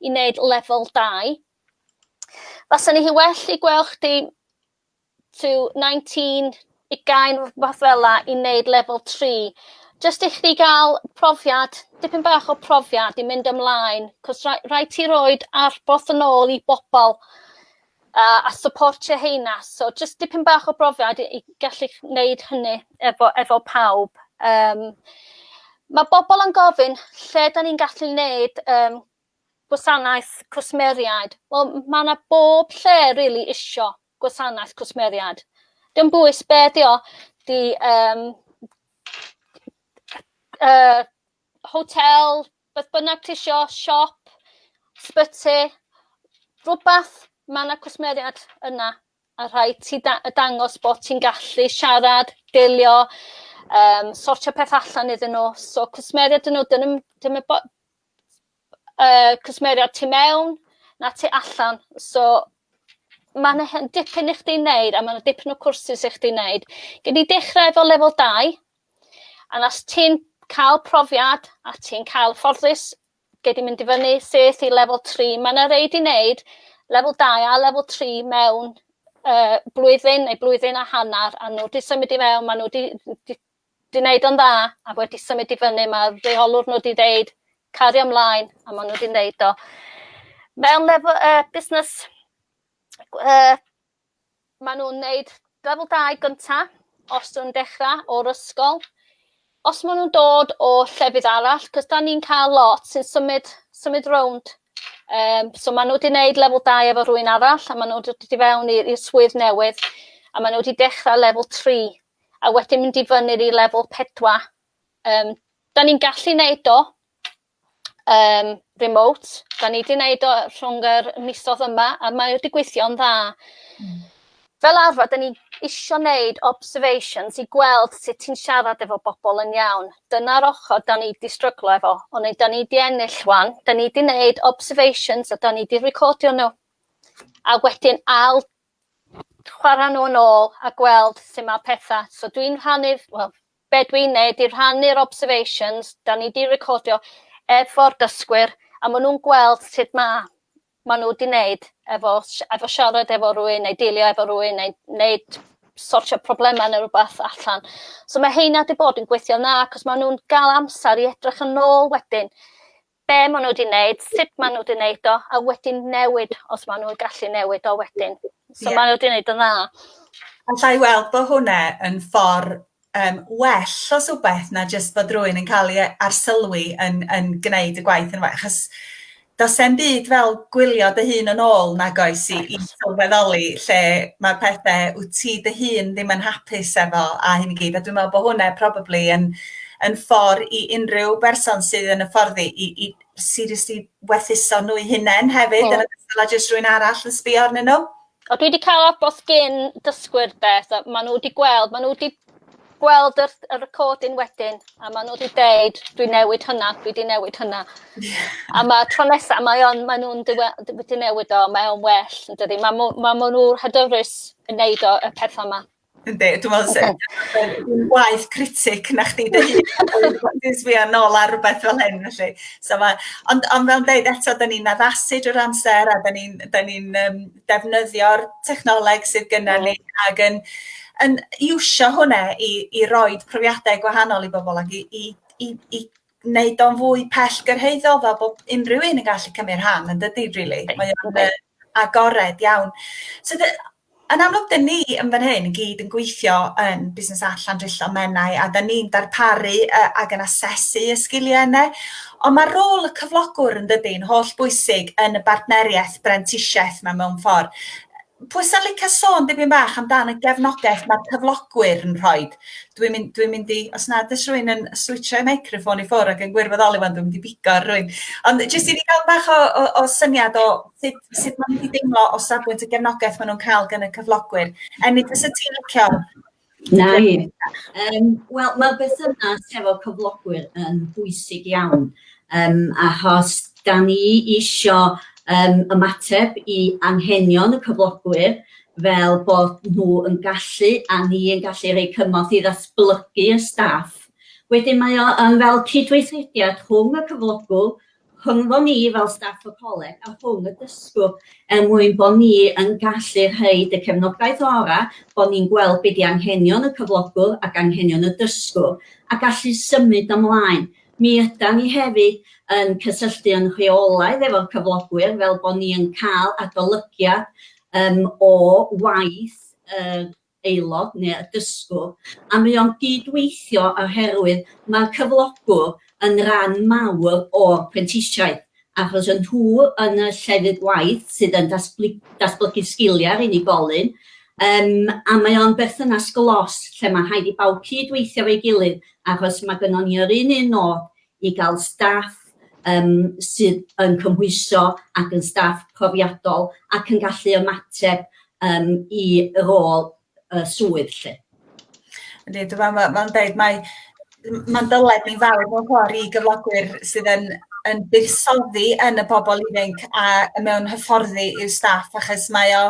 Speaker 1: i neud lefel dau. Faswn i well i gwel' chdi to nineteen ugain rwbath fela i neud lefel tri jyst i chdi ga'l profiad dipyn bach o profiad i mynd ymlaen 'c'os ra- raid ti roid arboth yn ôl i bobol a a syportio heina so jyst dipyn bach o brofiad i i gallu ch- neud hynny efo efo pawb yym ma' bobol yn gofyn lle 'dan ni'n gallu neud yym gwasanaeth cwsmeriaid wel m- ma' 'na bob lle rili isio gwasanaeth cwsmeriaid. Dim bwys be di o, di um, uh, hotel, beth bynnag ti isio, siop, sbyty, rhywbeth, mae yna cwsmeriaid yna a rhaid ti da dangos bod ti'n gallu siarad, delio, um, sortio peth allan iddyn nhw. So cwsmeriaid dyn nhw, dyn nhw, dyn nhw uh, cwsmeriaid tu mewn na tu allan. So mae yna dipyn i chdi wneud a mae yna dipyn o cwrsus i chdi wneud. Gyd i dechrau efo lefel 2 a nas ti'n cael profiad a ti'n cael fforddus gyd i mynd i fyny seth i lefel 3. Mae yna reid i wneud lefel 2 a lefel 3 mewn uh, blwyddyn neu blwyddyn a hanner a nhw wedi symud i mewn, maen nhw wedi 'di neud o'n dda a wedi symud i fyny ma' reolwr nhw 'di ddeud cario mlaen a ma' nhw 'di neud o. Mewn lefel yy busnes yy ma' nhw'n neud lefel dau gynta os nw'n dechra o'r ysgol os ma' nw'n dod o llefydd arall 'c'os 'dan ni'n ca'l lot sy'n symud symud rownd yym so ma' n'w 'di neud lefel dau efo rhywun arall a ma' n'w dod i fewn i i'r swydd newydd a ma' n'w 'di dechra lefel tri a wedyn mynd i fyny'r i lefel 4. Um, da ni'n gallu neud o um, remote, da ni wedi neud o rhwng yr misodd yma a mae wedi gweithio'n dda. Mm. Fel arfer, da ni isio neud observations i gweld sut ti'n siarad efo bobl yn iawn. Dyna'r ochr da ni wedi stryglo efo, ond da ni wedi ennill wan, da ni wedi neud observations a da ni wedi recordio nhw. A wedyn ail chwarae nhw yn ôl a gweld sut mae pethau. So dwi'n rhannu, wel, be dwi'n neud i rhannu'r observations, da ni di recordio efo'r dysgwyr, a maen nhw'n gweld sut mae maen nhw wedi wneud efo, efo siarad efo rhywun neu dealio efo rhywun neu wneud sortio problemau neu rhywbeth allan. So mae heina wedi bod yn gweithio na, cos maen nhw'n gael amser i edrych yn ôl wedyn. be maen nhw wedi wneud, sut maen nhw wedi wneud o, a wedyn newid os maen nhw'n gallu newid o wedyn. So yeah. maen nhw wedi wneud yn dda. Alla i weld bod hwnna yn ffordd um, well o swbeth na jyst bod rhywun yn cael ei arsylwi yn, yn gwneud y gwaith yn well. Achos does e'n byd fel gwylio dy hun yn ôl nag oes i, i sylweddoli lle mae pethau wyt ti dy hun ddim yn hapus efo a hyn i gyd. A dwi'n meddwl bod hwnna probably yn yn ffordd i unrhyw berson sydd yn y fforddi i, i seriously werthuso nhw'i hunain hefyd, yn ystod a jyst rhywun arall yn sbio arnyn nhw. O, dwi wedi cael abos gyn dysgwyr de, so maen nhw wedi gweld, maen nhw wedi gweld yr, y recording wedyn, a maen nhw wedi deud, dwi newid hynna, dwi wedi newid hynna. a mae tro nesaf, mae on, maen nhw'n wedi newid o, mae o'n well, yn dydy. Mae ma, ma nhw hydyrus yn neud o y pethau yma. Yndi, dwi'n meddwl so. Dwi'n waith critic na chdi dy hun. Dwi'n sbio nôl ar rhywbeth fel hyn, felly. So ma, ond, ond fel dweud eto, da ni'n addasu drwy'r amser a da ni'n ni um, defnyddio'r technoleg sydd gyda ni ac yn, yn iwsio hwnna i, i roi profiadau gwahanol i bobl ac i, i, i, i wneud o'n fwy pell gyrhaeddol fel bod unrhyw un yn gallu cymryd rhan yn dydy, really. Mae o'n Agored iawn. So the- yn amlwg 'dyn ni yn fan hyn i gyd yn gweithio yn Busnes Arts Llandrillo Menai a 'dyn ni'n darparu yy ag yn asesu y sgilie yne on' ma' rôl y cyflogwr yndydi yn holl bwysig yn y bartnerieth brentisieth 'ma mewn ffor. Yy pwy sa'n licio sôn dipyn bach amdan y gefnogaeth ma'r cyflogwyr yn rhoid? Dwi'n mynd dwi'n mynd i os nad oes rhywun yn switsio'i meicroffon i ffwrdd ac yn gwirfoddoli ŵan dwi'n mynd i bigo ar rywun. Ond jyst i ni gael bach o o o syniad o sut sut ma' nhw 'di deimlo o safbwynt y gefnogaeth ma' nhw'n ca'l gan y cyflogwyr. Enid fysa ti'n licio... Na i. Yym wel ma'r berthynas hefo cyflogwyr yn bwysig iawn. Yym, achos da ni isio yym ymateb i anghenion y cyflogwyr fel bod nhw yn gallu a ni yn gallu rhoi cymorth i ddatblygu y staff. Wedyn mae o yn fel cydweithrediad rhwng y cyflogwr, rhyngddo ni fel staff y coleg a rhwng y dysgwr er mwyn bod ni yn gallu rhoi y cefnogaeth orau, bod ni'n gweld be di anghenion y cyflogwr ac anghenion y dysgwr a gallu symud ymlaen. Mi ydan ni hefyd yn cysylltu yn rheolaidd efo'r cyflogwyr fel bod ni yn cael adolygiad yym o waith yr aelod neu y dysgwr a mae o'n gyd-weithio oherwydd mae'r cyflogwr yn ran mawr o'r prentisiaeth. achos y nhw yn y llefydd gwaith sydd yn datblygu sgiliau ar unigolyn, yym a mae o'n berthynas glos lle mae rhaid i bawb cyd-weithio efo'i gilydd achos mae gynnon ni yr un un nod i gael staff um, sydd yn cymhwyso ac yn staff profiadol ac yn gallu ymateb um, i rôl y swydd lle. Ydy, dwi'n meddwl, mae'n ma deud, mae mae'n dyled ni'n fawr mewn ffordd i gyflogwyr sydd yn yn buddsoddi yn y bobl ifanc a mewn hyfforddi i'w staff achos mae o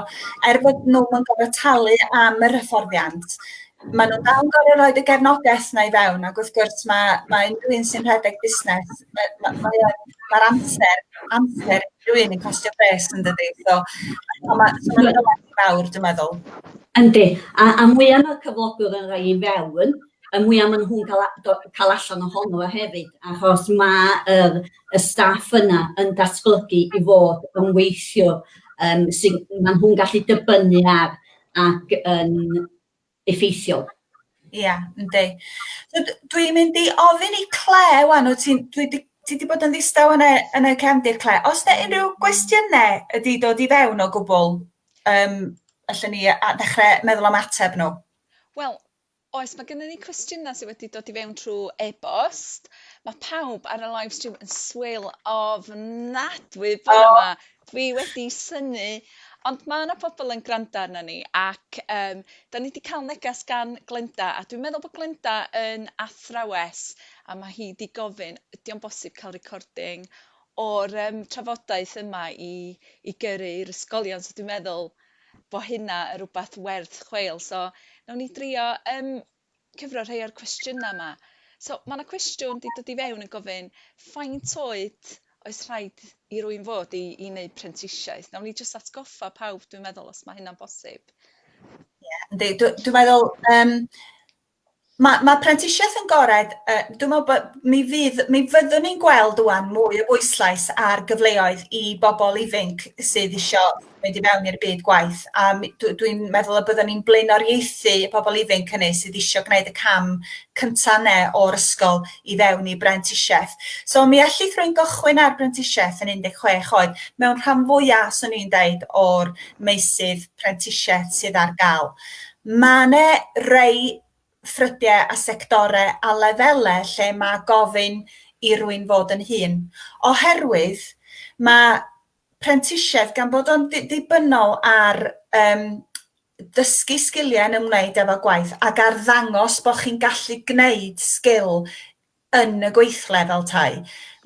Speaker 1: er bod nhw yn gorfod talu am yr hyfforddiant maen nhw'n dal yn gorfod rhoi y gefnogaeth na i fewn ac wrth gwrs mae mae unrhyw un sy'n rhedeg busnes mae ma' mae o'n ma'r amser amser rhywun yn costio bres yndydi so a ma' so ma' mawr dwi'n meddwl. Yndi, a, a mwya mae'r cyflogwr yn rhoi i fewn, y mwya maen nhw'n cael, cael allan ohono fo hefyd, achos mae yr, y staff yna yn datblygu i fod yn weithio, um, sy'n, maen nhw'n gallu dibynnu ar ac yn effeithiol. Ia, yndi. So dwi'n mynd i ofyn i Claire ŵan, wyt ti'n dwi di ti wedi bod yn ddistaw yn y yn y cefndir Claire. Os yna unrhyw gwestiynau ydi dod i fewn o gwbl, yym allan ni a ddechrau meddwl am ateb nhw. Wel, oes, mae gennym ni cwestiynau sydd wedi dod i fewn trwy e-bost. Mae pawb ar y live stream yn swil ofnadwy bore 'ma. Dwi wedi synnu ond ma' 'na pobol yn granda arnon ni ac yym 'dan ni 'di ca'l neges gan Glenda a dwi'n meddwl bo' Glenda yn athrawes a ma' hi 'di gofyn ydi o'n bosib ca'l recording o'r yym trafodaeth yma i i gyrru i'r ysgolion so dwi'n meddwl bo' hynna yn rwbath werth chweil so nawn ni drio yym cyfro rhai o'r cwestiynau yma. So, mae yna cwestiwn wedi dod i fewn yn gofyn faint oed oes rhaid i rwy'n fod i i wneud prentisiaeth? Nawn ni jyst atgoffa pawb, dwi'n meddwl, os mae hynna'n bosib. Ie, yndi. Dw- Dwi'n meddwl, um, mae, mae prentisiaeth yn gored, uh, dwi'n meddwl bod mi, fydd, mi fyddwn ni'n gweld wwan mwy o bwyslais ar gyfleoedd i bobl ifanc sydd eisiau mynd i mewn i'r byd gwaith a mi- dw- dwi'n meddwl y byddwn ni'n blaenoriaethu y pobl ifanc hynny sydd eisiau gwneud y cam cynta' yne o'r ysgol i fewn i brentisiaeth. So mi allith rwy'n gychwyn ar brentisiaeth yn 16 oed mewn rhan fwyaf, swn i'n deud, o'r meysydd prentisiaeth sydd ar gael. Mae yna rei ffrydiau a sectorau a lefelau lle mae gofyn i rwy'n fod yn hun, oherwydd mae prentisiaeth gan bod o'n ddibynnol ar um, dysgu sgiliau yn ymwneud efo gwaith ac ar ddangos bod chi'n gallu gwneud sgil yn y gweithle fel tai.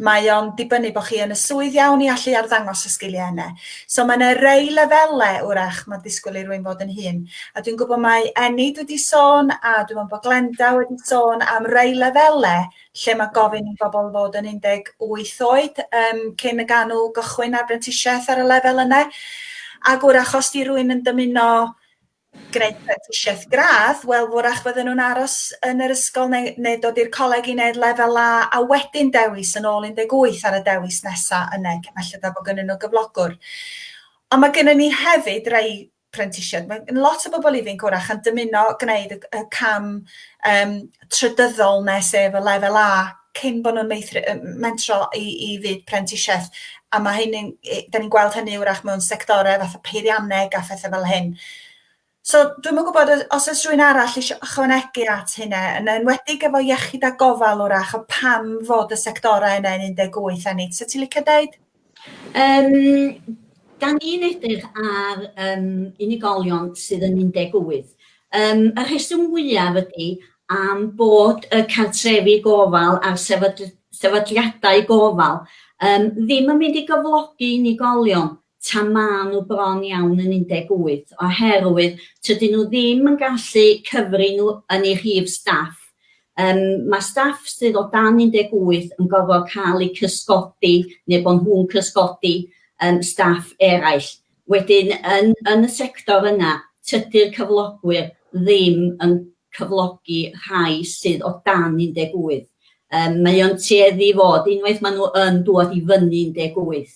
Speaker 1: Mae o'n dibynnu bod chi yn y swydd iawn i allu arddangos y sgiliau yna. So mae yna rei lefelau wrach mae disgwyl i rwy'n fod yn hun. A dwi'n gwybod mae Enid wedi sôn a dwi'n meddwl bod Glenda wedi sôn am rei lefelau lle mae gofyn i bobl fod yn 18 oed um, cyn y ganw gychwyn ar brentisiaeth ar y lefel yna. Ac wrach os di rwy'n yn dymuno gwneud prentisiaeth gradd, wel wrach fydden nhw'n aros yn yr ysgol neu, neu dod i'r coleg i wneud lefel A a wedyn dewis yn ôl 18 ar y dewis nesaf yna, felly da bod gynnyn nhw gyflogwr. Ond mae gennym ni hefyd rai prentisiaid. Mae gen lot o bobl ifanc hwyrach yn dymuno gwneud y, y cam um, trydyddol nes sef y lefel A cyn bod nhw'n mentro i, i fyd prentisiaeth. A mae hynny'n, da ni'n gweld hynny wrach mewn sectorau fatha peirianneg a phethau fel hyn. So, dwi'n mwyn gwybod os oes rhywun arall eisiau ychwanegu at hynna, yn enwedig efo iechyd a gofal wrach, o pam fod y sectorau yna yn 18 a nid. So, ti'n licio dweud? Um, da ni'n edrych ar um, unigolion sydd yn 18. Um, y rheswm fwyaf ydy am bod y cartrefi gofal a'r sefydliadau gofal um, ddim yn mynd i gyflogi unigolion ta maen nhw bron iawn yn 18, oherwydd tydyn nhw ddim yn gallu cyfri nhw yn ei rhif staff Yym, mae staff sydd o dan 18 yn gorfod cael eu cysgodi neu bod nhw'n cysgodi yym staff eraill. Wedyn yn yn y sector yna, tydy'r cyflogwyr ddim yn cyflogi rhai sydd o dan 18. Yym mae o'n tueddu i fod, unwaith maen nhw yn dŵad i fyny 18,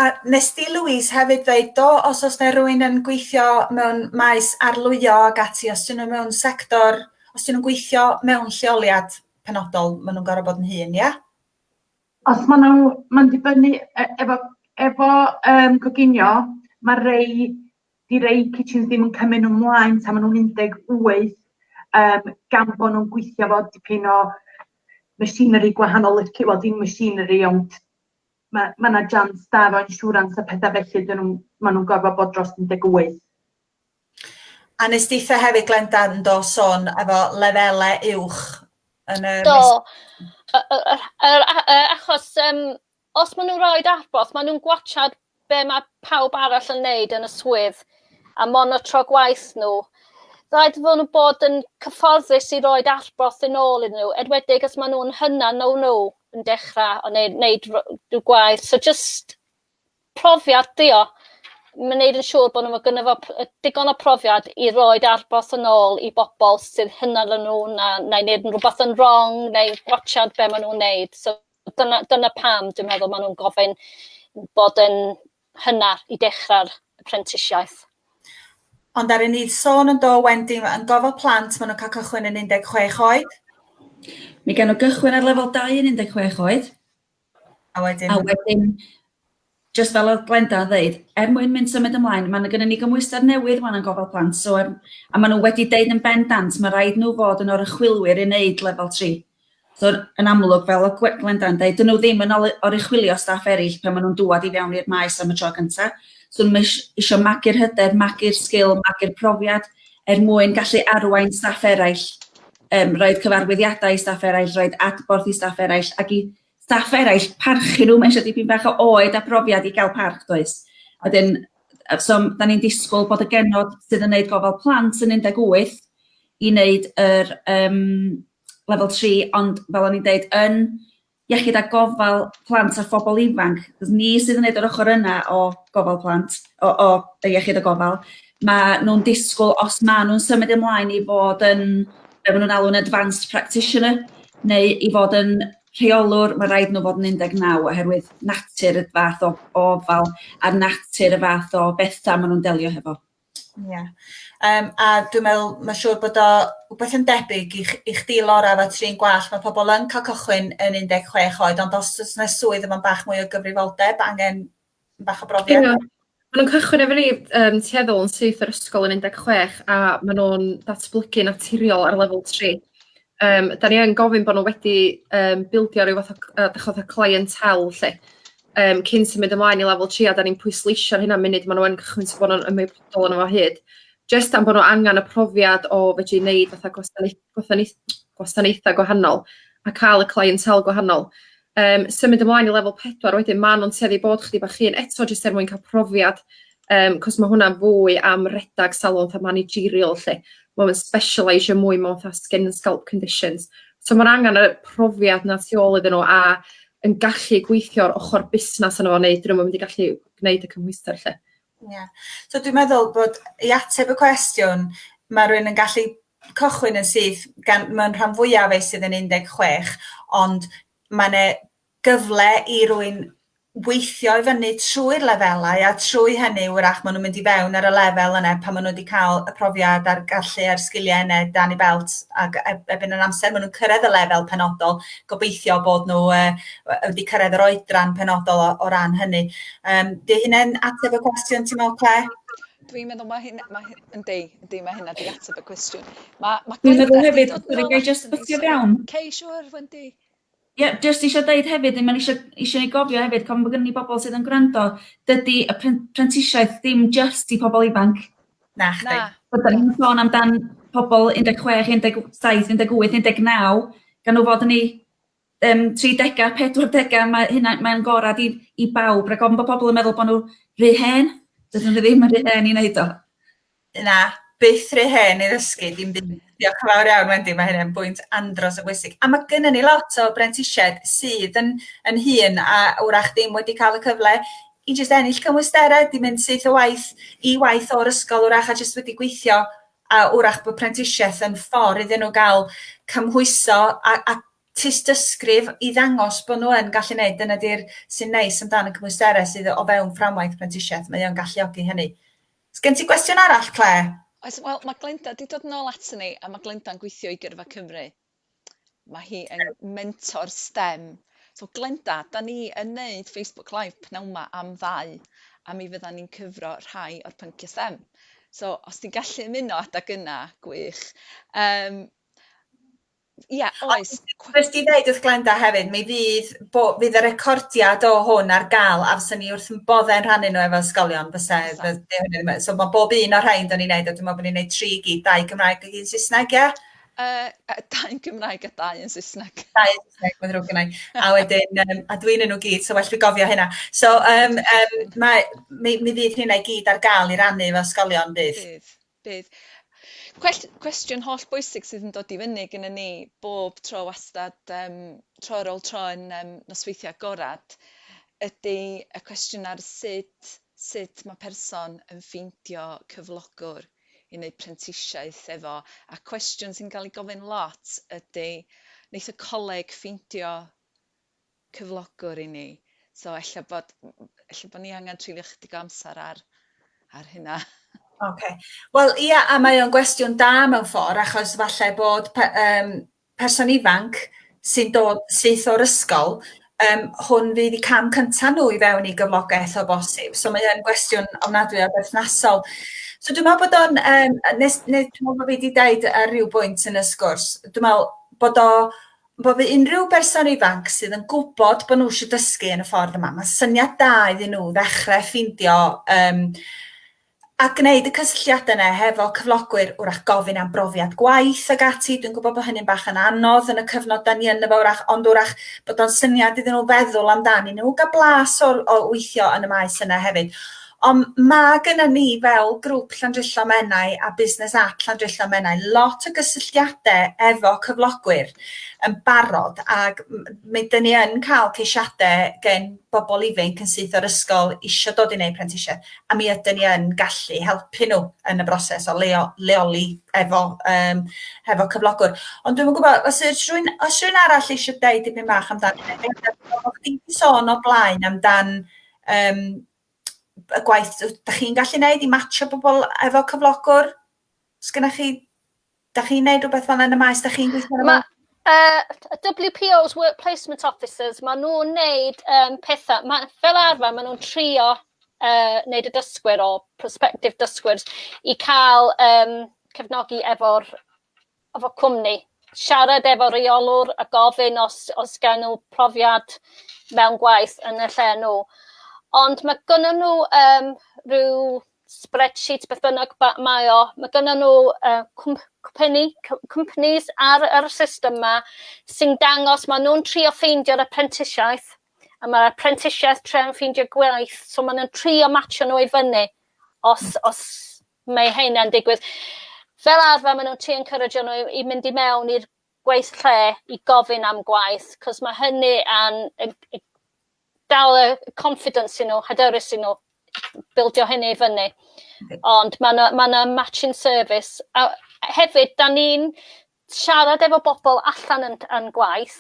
Speaker 1: A nes di Louise hefyd ddeud do os oes yna rhywun yn gweithio mewn maes arlwyo ac ati os ydyn nhw mewn sector, os ydyn nhw'n gweithio mewn lleoliad penodol maen nhw'n gorfod bod yn hŷn, ia? Os maen nhw, mae'n dibynnu e- efo efo yym coginio mae rei di rei kitchens ddim yn cymryd nhw mlaen tan maen nhw'n 18 yym gan bod nhw'n gweithio fo dipyn o machinery gwahanol lici- wel dim machinery ond ma' ma' 'na jans da efo insurance a petha felly 'dyn nhw'n ma' nhw'n gorfod bod dros 18. A nes deitha hefyd Glenda yn do sôn efo lefele uwch yn y... Do. Yr achos um, os maen nhw'n rhoi adborth, maen nhw'n gwachad be mae pawb arall yn neud yn y swydd a monotro gwaith nhw. Rhaid fod nhw'n bod yn cyfforddus i roed adborth yn ôl iddyn nhw, edwedig os maen nhw'n hynna no no. yn dechra o neu neud r- rhyw gwaith so jyst profiad 'di o. Ma' neud yn siŵr bo' n'w ma' gynno fo p- yy digon o profiad i roid adborth yn ôl i bobol sydd hyna na nw na neu neud yn rwbath yn rong neu gwatsiad be' ma' nw'n neud so dyna dyna pam dwi'n meddwl ma' nw'n gofyn bod yn hynna i dechrau'r prentisiaeth. Ond ar y nid sôn yn do Wendy ma yn gofal plant ma nhw'n cael cychwyn yn 16 oed. Mi gawn nhw gychwyn ar lefel dau yn 16 oed. A wedyn? A wedyn jyst fel oedd Glenda yn ddeud, er mwyn mynd symud ymlaen, mae gennym ni gymhwyster newydd wan yn gofal plant, so er, a maen nhw wedi deud yn bendant, mae rhaid nhw fod yn orychwylwyr i wneud lefel 3. So yn amlwg, fel o Gwe- Glenda'n deud, dyn nhw ddim yn ol- oruchwylio staff eraill pan maen nhw'n dŵad i fewn i'r maes am y tro gyntaf. So nhw eis- eisiau magu'r hyder, magu'r sgil, magu'r profiad er mwyn gallu arwain staff eraill, um, roed cyfarwyddiadau i staff eraill, roed adborth i staff eraill, ac i staff eraill parchu nhw, mae eisiau dipyn bach o oed a profiad i gael parch, does? A wedyn, yy, so m- da ni'n disgwyl bod y genod sydd yn wneud gofal plant yn 18 i wneud yr um, lefel 3 ond fel o'n i'n deud yn iechyd a gofal plant a phobl ifanc, achos ni sydd yn neud yr ochr yna o gofal plant, o, o y iechyd a gofal, mae nhw'n disgwyl os ma' nhw'n symud ymlaen i fod yn, be maen nhw'n alw'n advanced practitioner, neu i fod yn rheolwr, mae rhaid nhw fod yn 19 oherwydd natur y fath o, o ofal a natur y fath o bethau maen nhw'n delio hefo. Ie yym a dwi'n meddwl ma' siŵr bod o wbeth yn debyg i ch- i chdi Lora efo trin gwallt ma' pobol yn ca'l cychwyn yn un deg chwech oed ond os o's 'na swydd efo bach mwy o gyfrifoldeb angen bach o brofiad. Ia ma' nw'n cychwyn efo ni yym tueddol yn syth o'r ysgol yn un deg chwech a ma' nw'n datblygu naturiol ar lefel tri. Yym 'dan ni yn gofyn bo' nw wedi yym bildio ryw fath o c- yy 'dych ch'od y clientelle 'lly yym cyn symud ymlaen i lefel tri a 'dan ni'n pwysleisio hynna munud ma' nw yn cychwyn so bo' nw'n ymwybodol o'no fo o hyd jyst am bo' nw angan y profiad o fedru neud fatha gwasanaeth- gwasanaeth- gwasanaetha' gwahanol a ca'l y clientelle gwahanol. Yym symud ymlaen i lefel pedwar wedyn ma' nw'n tueddu i bod chydig bach hŷn eto jyst er mwyn ca'l profiad yym 'c'os ma' hwnna'n fwy am redag salwch a managerial 'lly ma' o'n specialeisio mwy mewn 'tha skin and scalp conditions so ma'r angan y profiad 'na tu ôl iddyn n'w a yn gallu gweithio'r ochor busnas yno fo neu 'dyn nw'm yn mynd i gallu gneud y cymhwyster 'lly. Ie. So dwi'n meddwl bod i ateb y cwestiwn, mae rhywun yn gallu cychwyn yn syth, gan mae'n rhan fwyaf ei sydd yn 16, ond mae'n e gyfle i rwy'n weithio i fyny trwy'r lefelau a trwy hynny wrach maen nhw'n mynd i fewn ar y lefel yna pan maen nhw wedi cael y profiad a'r gallu a'r sgiliau yna dan ei belt ac e- ebyn yr amser maen nhw'n cyrraedd y lefel penodol, gobeithio bod nhw yy wedi cyrraedd yr oedran penodol o, o ran hynny. Yym, di hynna'n ateb y cwestiwn ti'n meddwl, Claire? Dwi'n meddwl mae hyn, mae hyn, yndi, yndi, mae hynna di ateb y cwestiwn. Mae, mae Dwi'n meddwl hefyd, dwi'n gael just bwtio fewn. Cei, siwr, Wendy. Ie, yeah, just eisiau dweud hefyd, mae'n eisiau, eisiau ni gofio hefyd, cofn bod gen i bobl sydd yn gwrando, dydy y prentisiaeth ddim just i pobl ifanc. Na, chdi. Na. Byddwn ni'n sôn amdan pobl 16, 17, 18, 19, gan nhw fod yn ei yym tridega, pedwardega, mae hynna mae'n gorad i i bawb rag ofn bo' pobl yn meddwl bo' nhw rhy hen, dydyn nhw ddim yn rhy hen i wneud o. Na, byth rhy hen i ddysgu dim byd. Diolch yn fawr iawn Wendy, mae hynny'n bwynt andros o bwysig. A mae gennym ni lot o brentisiaid sydd yn yn hŷn a wrach ddim wedi cael y cyfle i jyst ennill cymwysterau, 'di mynd syth o waith i waith o'r ysgol wrach a jyst wedi gweithio a wrach bod prentisiaeth yn ffordd iddyn nhw gael cymhwyso a, a tystysgrif i ddangos bod nhw yn gallu gwneud. Dyna di'r sy'n neis amdano cymwysterau sydd o fewn fframwaith prentisiaeth. Mae o'n galluogi hynny. Os gen ti gwestiwn arall, Claire? Oes, wel, mae Glenda wedi dod yn ôl ato ni, a mae Glenda'n gweithio i Gyrfa Cymru. Mae hi yn mentor stem. So Glenda, da ni yn neud Facebook Live pnawn 'ma am ddau, a mi fyddan ni'n cyfro rhai o'r pynciau stem. So os ti'n gallu ymuno adag yna, gwych. Um, Ia, oes. Wnes di ddeud wrth Glenda hefyd, mi fydd, bo, fydd y recordiad o hwn ar gael, a fyswn ni wrth yn boddau'n rhannu nhw efo ysgolion, fysa, so mae bob un o'r rhain do'n i'n neud, a dwi'n meddwl bod ni'n neud tri gyd, dau Gymraeg ac un Saesneg, ie? Yy yy dau yn Gymraeg a dau yn Saesneg. Dau yn Saesneg, mae'n ddrwg gennai. A wedyn, um, a dwi'n yn nhw gyd, so well fi gofio hynna. So, um, um, mae, mi, mi fydd hynna i gyd ar gael i rannu efo ysgolion, bydd? Bydd, bydd. Cwest, cwestiwn holl bwysig sydd yn dod i fyny gyda ni bob tro wastad, um, tro ar ôl tro yn um, nosweithio agorad, ydy y cwestiwn ar sut, sut mae person yn ffeindio cyflogwr yn eu prentisiaeth efo a cwestiwn sy'n cael ei gofyn lot ydy wneith y coleg ffeindio cyflogwr i ni? So ella bod ella bod ni angen trifio chydig o amser ar ar hynna. Oce. Wel ia a mae o'n gwestiwn da mewn ffordd achos falle bod pe- yym person ifanc sy'n dod syth o'r ysgol, um, hwn fydd y cam cyntaf nhw i fewn i gyflogaeth o bosib. So mae hyn gwestiwn ofnadwy o berthnasol. So dwi'n meddwl bod o'n, um, nes, nes, dwi'n meddwl bod fi wedi dweud ar ryw bwynt yn y sgwrs, dwi'n meddwl bod o, bod fi unrhyw berson ifanc sydd yn gwybod bod nhw eisiau dysgu yn y ffordd yma, mae syniad da iddyn nhw ddechrau ffeindio um, a gwneud y cysylltiadau yna hefo cyflogwyr, wrach gofyn am brofiad gwaith ac ati, dwi'n gwybod bod hynny'n bach yn anodd yn y cyfnod da ni yn efo wrach, ond wrach bod o'n syniad iddyn nhw feddwl amdani nhw, gael blas o, o weithio yn y maes yna hefyd. Ond mae gyda ni fel grŵp Llandrillo Menai a Business at Llandrillo Menai lot o gysylltiadau efo cyflogwyr yn barod ac mae dyn ni yn cael ceisiadau gen bobl ifanc yn syth o'r ysgol eisiau dod i wneud prentisiaeth a mi ydyn ni yn gallu helpu nhw yn y broses o leo, leoli efo, um, efo cyflogwr. Ond dwi'n gwybod, os yw'r rhywun, os rhywun arall eisiau dweud dipyn bach amdan, o chdi sôn o blaen amdan um, y gwaith, da chi'n gallu gwneud i matcho bobl efo cyflogwr? Sgynna chi Dach chi'n neud rhywbeth fel yn y maes, dach chi'n gweithio yn y maes? Uh, WPOs, Work Placement Officers, maen nhw'n neud um, pethau, ma, fel arfer maen nhw'n trio uh, neud y dysgwyr o prospective dysgwyr i cael um, cefnogi efo'r efo cwmni. Siarad efo reolwr a gofyn os, os gael nhw profiad mewn gwaith yn y lle nhw. Ond mae gynnyn nhw um, rhyw spreadsheet beth bynnag mae o, mae gyda nhw uh, cwmpeni, companies ar yr system yma sy'n dangos, maen nhw'n trio ffeindio'r apprentisiaeth, a mae'r apprentisiaeth tre'n ffeindio gwaith, so maen nhw'n trio matcho nhw i fyny os, os mae hynna'n digwydd. Fel arfer, maen nhw'n trio encourage nhw i, i mynd i mewn i'r gwaith lle i gofyn am gwaith, cos mae hynny yn, yn, yn dal y confidence i nhw, hyderus i nhw, bildio hynny i fyny. Ond mae yna ma, na, matching service. A hefyd, da ni'n siarad efo bobl allan yn, yn gwaith,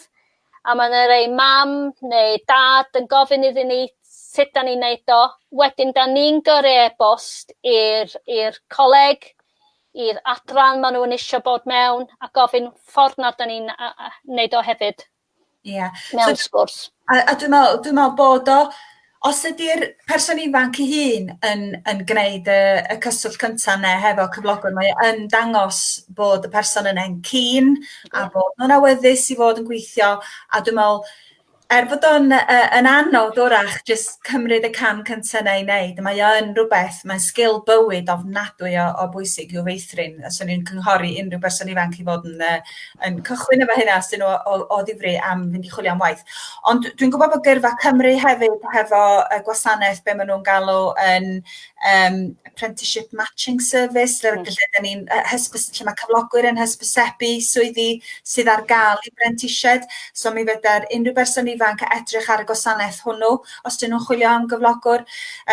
Speaker 1: a mae yna rei mam neu dad yn gofyn iddyn ni sut da ni'n neud o. Wedyn, da ni'n gyrru e-bost i'r coleg, i'r adran maen nhw'n eisiau bod mewn a gofyn ffordd nad da ni'n wneud o hefyd yeah. mewn so, sgwrs. A, a dwi'n meddwl, dwi meddwl bod o, os ydy'r person ifanc ei hun yn, yn gwneud y, y cyswllt cyntaf neu hefo cyflogwr, mae yn dangos bod y person yn ein cyn a bod nhw'n awyddus i fod yn gweithio a dwi'n meddwl Er bod o'n yy yn anodd 'w'rach jyst cymryd y cam cynta 'na i neud, mae o yn rwbeth, mae'n sgil bywyd ofnadwy o o bwysig i'w feithrin. A 'swn i'n cynghori unrhyw berson ifanc i fod yn yy yn cychwyn efo hynna os 'dyn nhw o o o ddifri am fynd i chwilio am waith. Ond dwi'n gwbod bod Gyrfa Cymru hefyd hefo y gwasanaeth be' ma' nw'n galw yn um, apprenticeship matching service, lle, mm. lle, lle, ni'n, hysbys, lle mae cyflogwyr yn hysbysebu swyddi sydd ar gael i brentisiaid. So mi fydda'r unrhyw berson ifanc edrych ar y gwasanaeth hwnnw os dyn nhw'n chwilio am gyflogwr.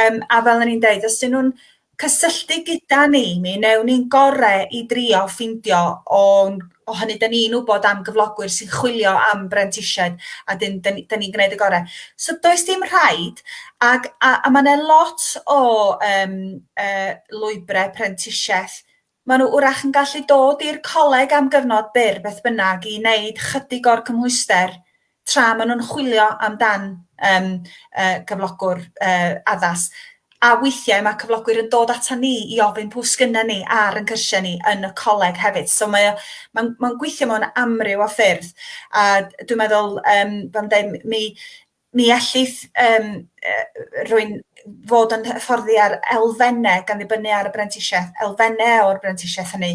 Speaker 1: Um, a fel ni'n dweud, os dyn nhw'n cysylltu gyda ni, mi newn ni'n gorau i drio ffindio o'n o hynny 'dyn ni'n wybod am gyflogwyr sy'n chwilio am brentisiaid a 'dyn 'dyn ni 'dyn ni'n gneud y gore'. So does dim rhaid ag a a ma' 'na lot o yym yy lwybre prentisiaeth. Maen nhw wrach yn gallu dod i'r coleg am gyfnod byr beth bynnag i wneud chydig o'r cymhwyster tra maen nhw'n chwilio amdan um, uh, cyflogwr uh, addas. A weithiau mae cyflogwyr yn dod ata ni i ofyn pwy sgynna ni ar yn cyrsiau ni yn y coleg hefyd. So mae mae'n mae gweithio mewn amryw o ffyrdd. A dwi'n meddwl, um, fel dweud, mi, mi ellith um, rwy'n fod yn hyfforddi ar elfennau gan ddibynnu ar y brentisiaeth, elfennau o'r brentisiaeth hynny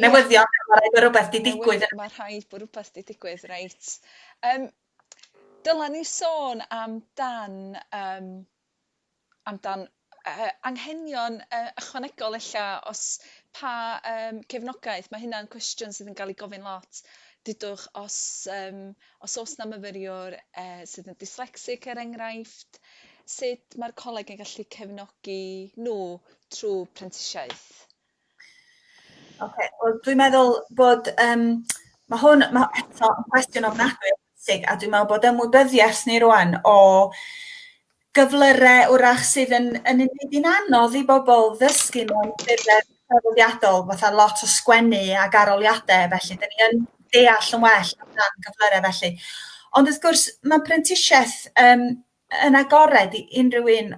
Speaker 1: Newyddion, mae rhaid bod rhywbeth di digwydd. Mae rhaid bod rhywbeth di digwydd, reit. Um, dyla ni sôn am dan, um, am dan uh, anghenion uh, ychwanegol ella, os pa um, cefnogaeth, mae hynna'n cwestiwn sydd yn cael ei gofyn lot. Dydwch, os, um, os oes na myfyriwr uh, sydd yn dyslexic er enghraifft, sut mae'r coleg yn gallu cefnogi nhw trwy prentisiaeth? Ok, wel dwi'n meddwl bod, um, mae hwn, mae eto yn cwestiwn ofnadwy o bwysig, a dwi'n meddwl bod ymwybyddiaeth ni rwan o gyflyrau wrach sydd yn, yn unig yn anodd i bobl ddysgu mewn ffurfau traddodiadol, fatha lot o sgwennu ac aroliadau, felly dyn ni yn deall yn well amdan gyflyrau felly. Ond wrth gwrs, mae prentisiaeth um, yn agored i unrhyw un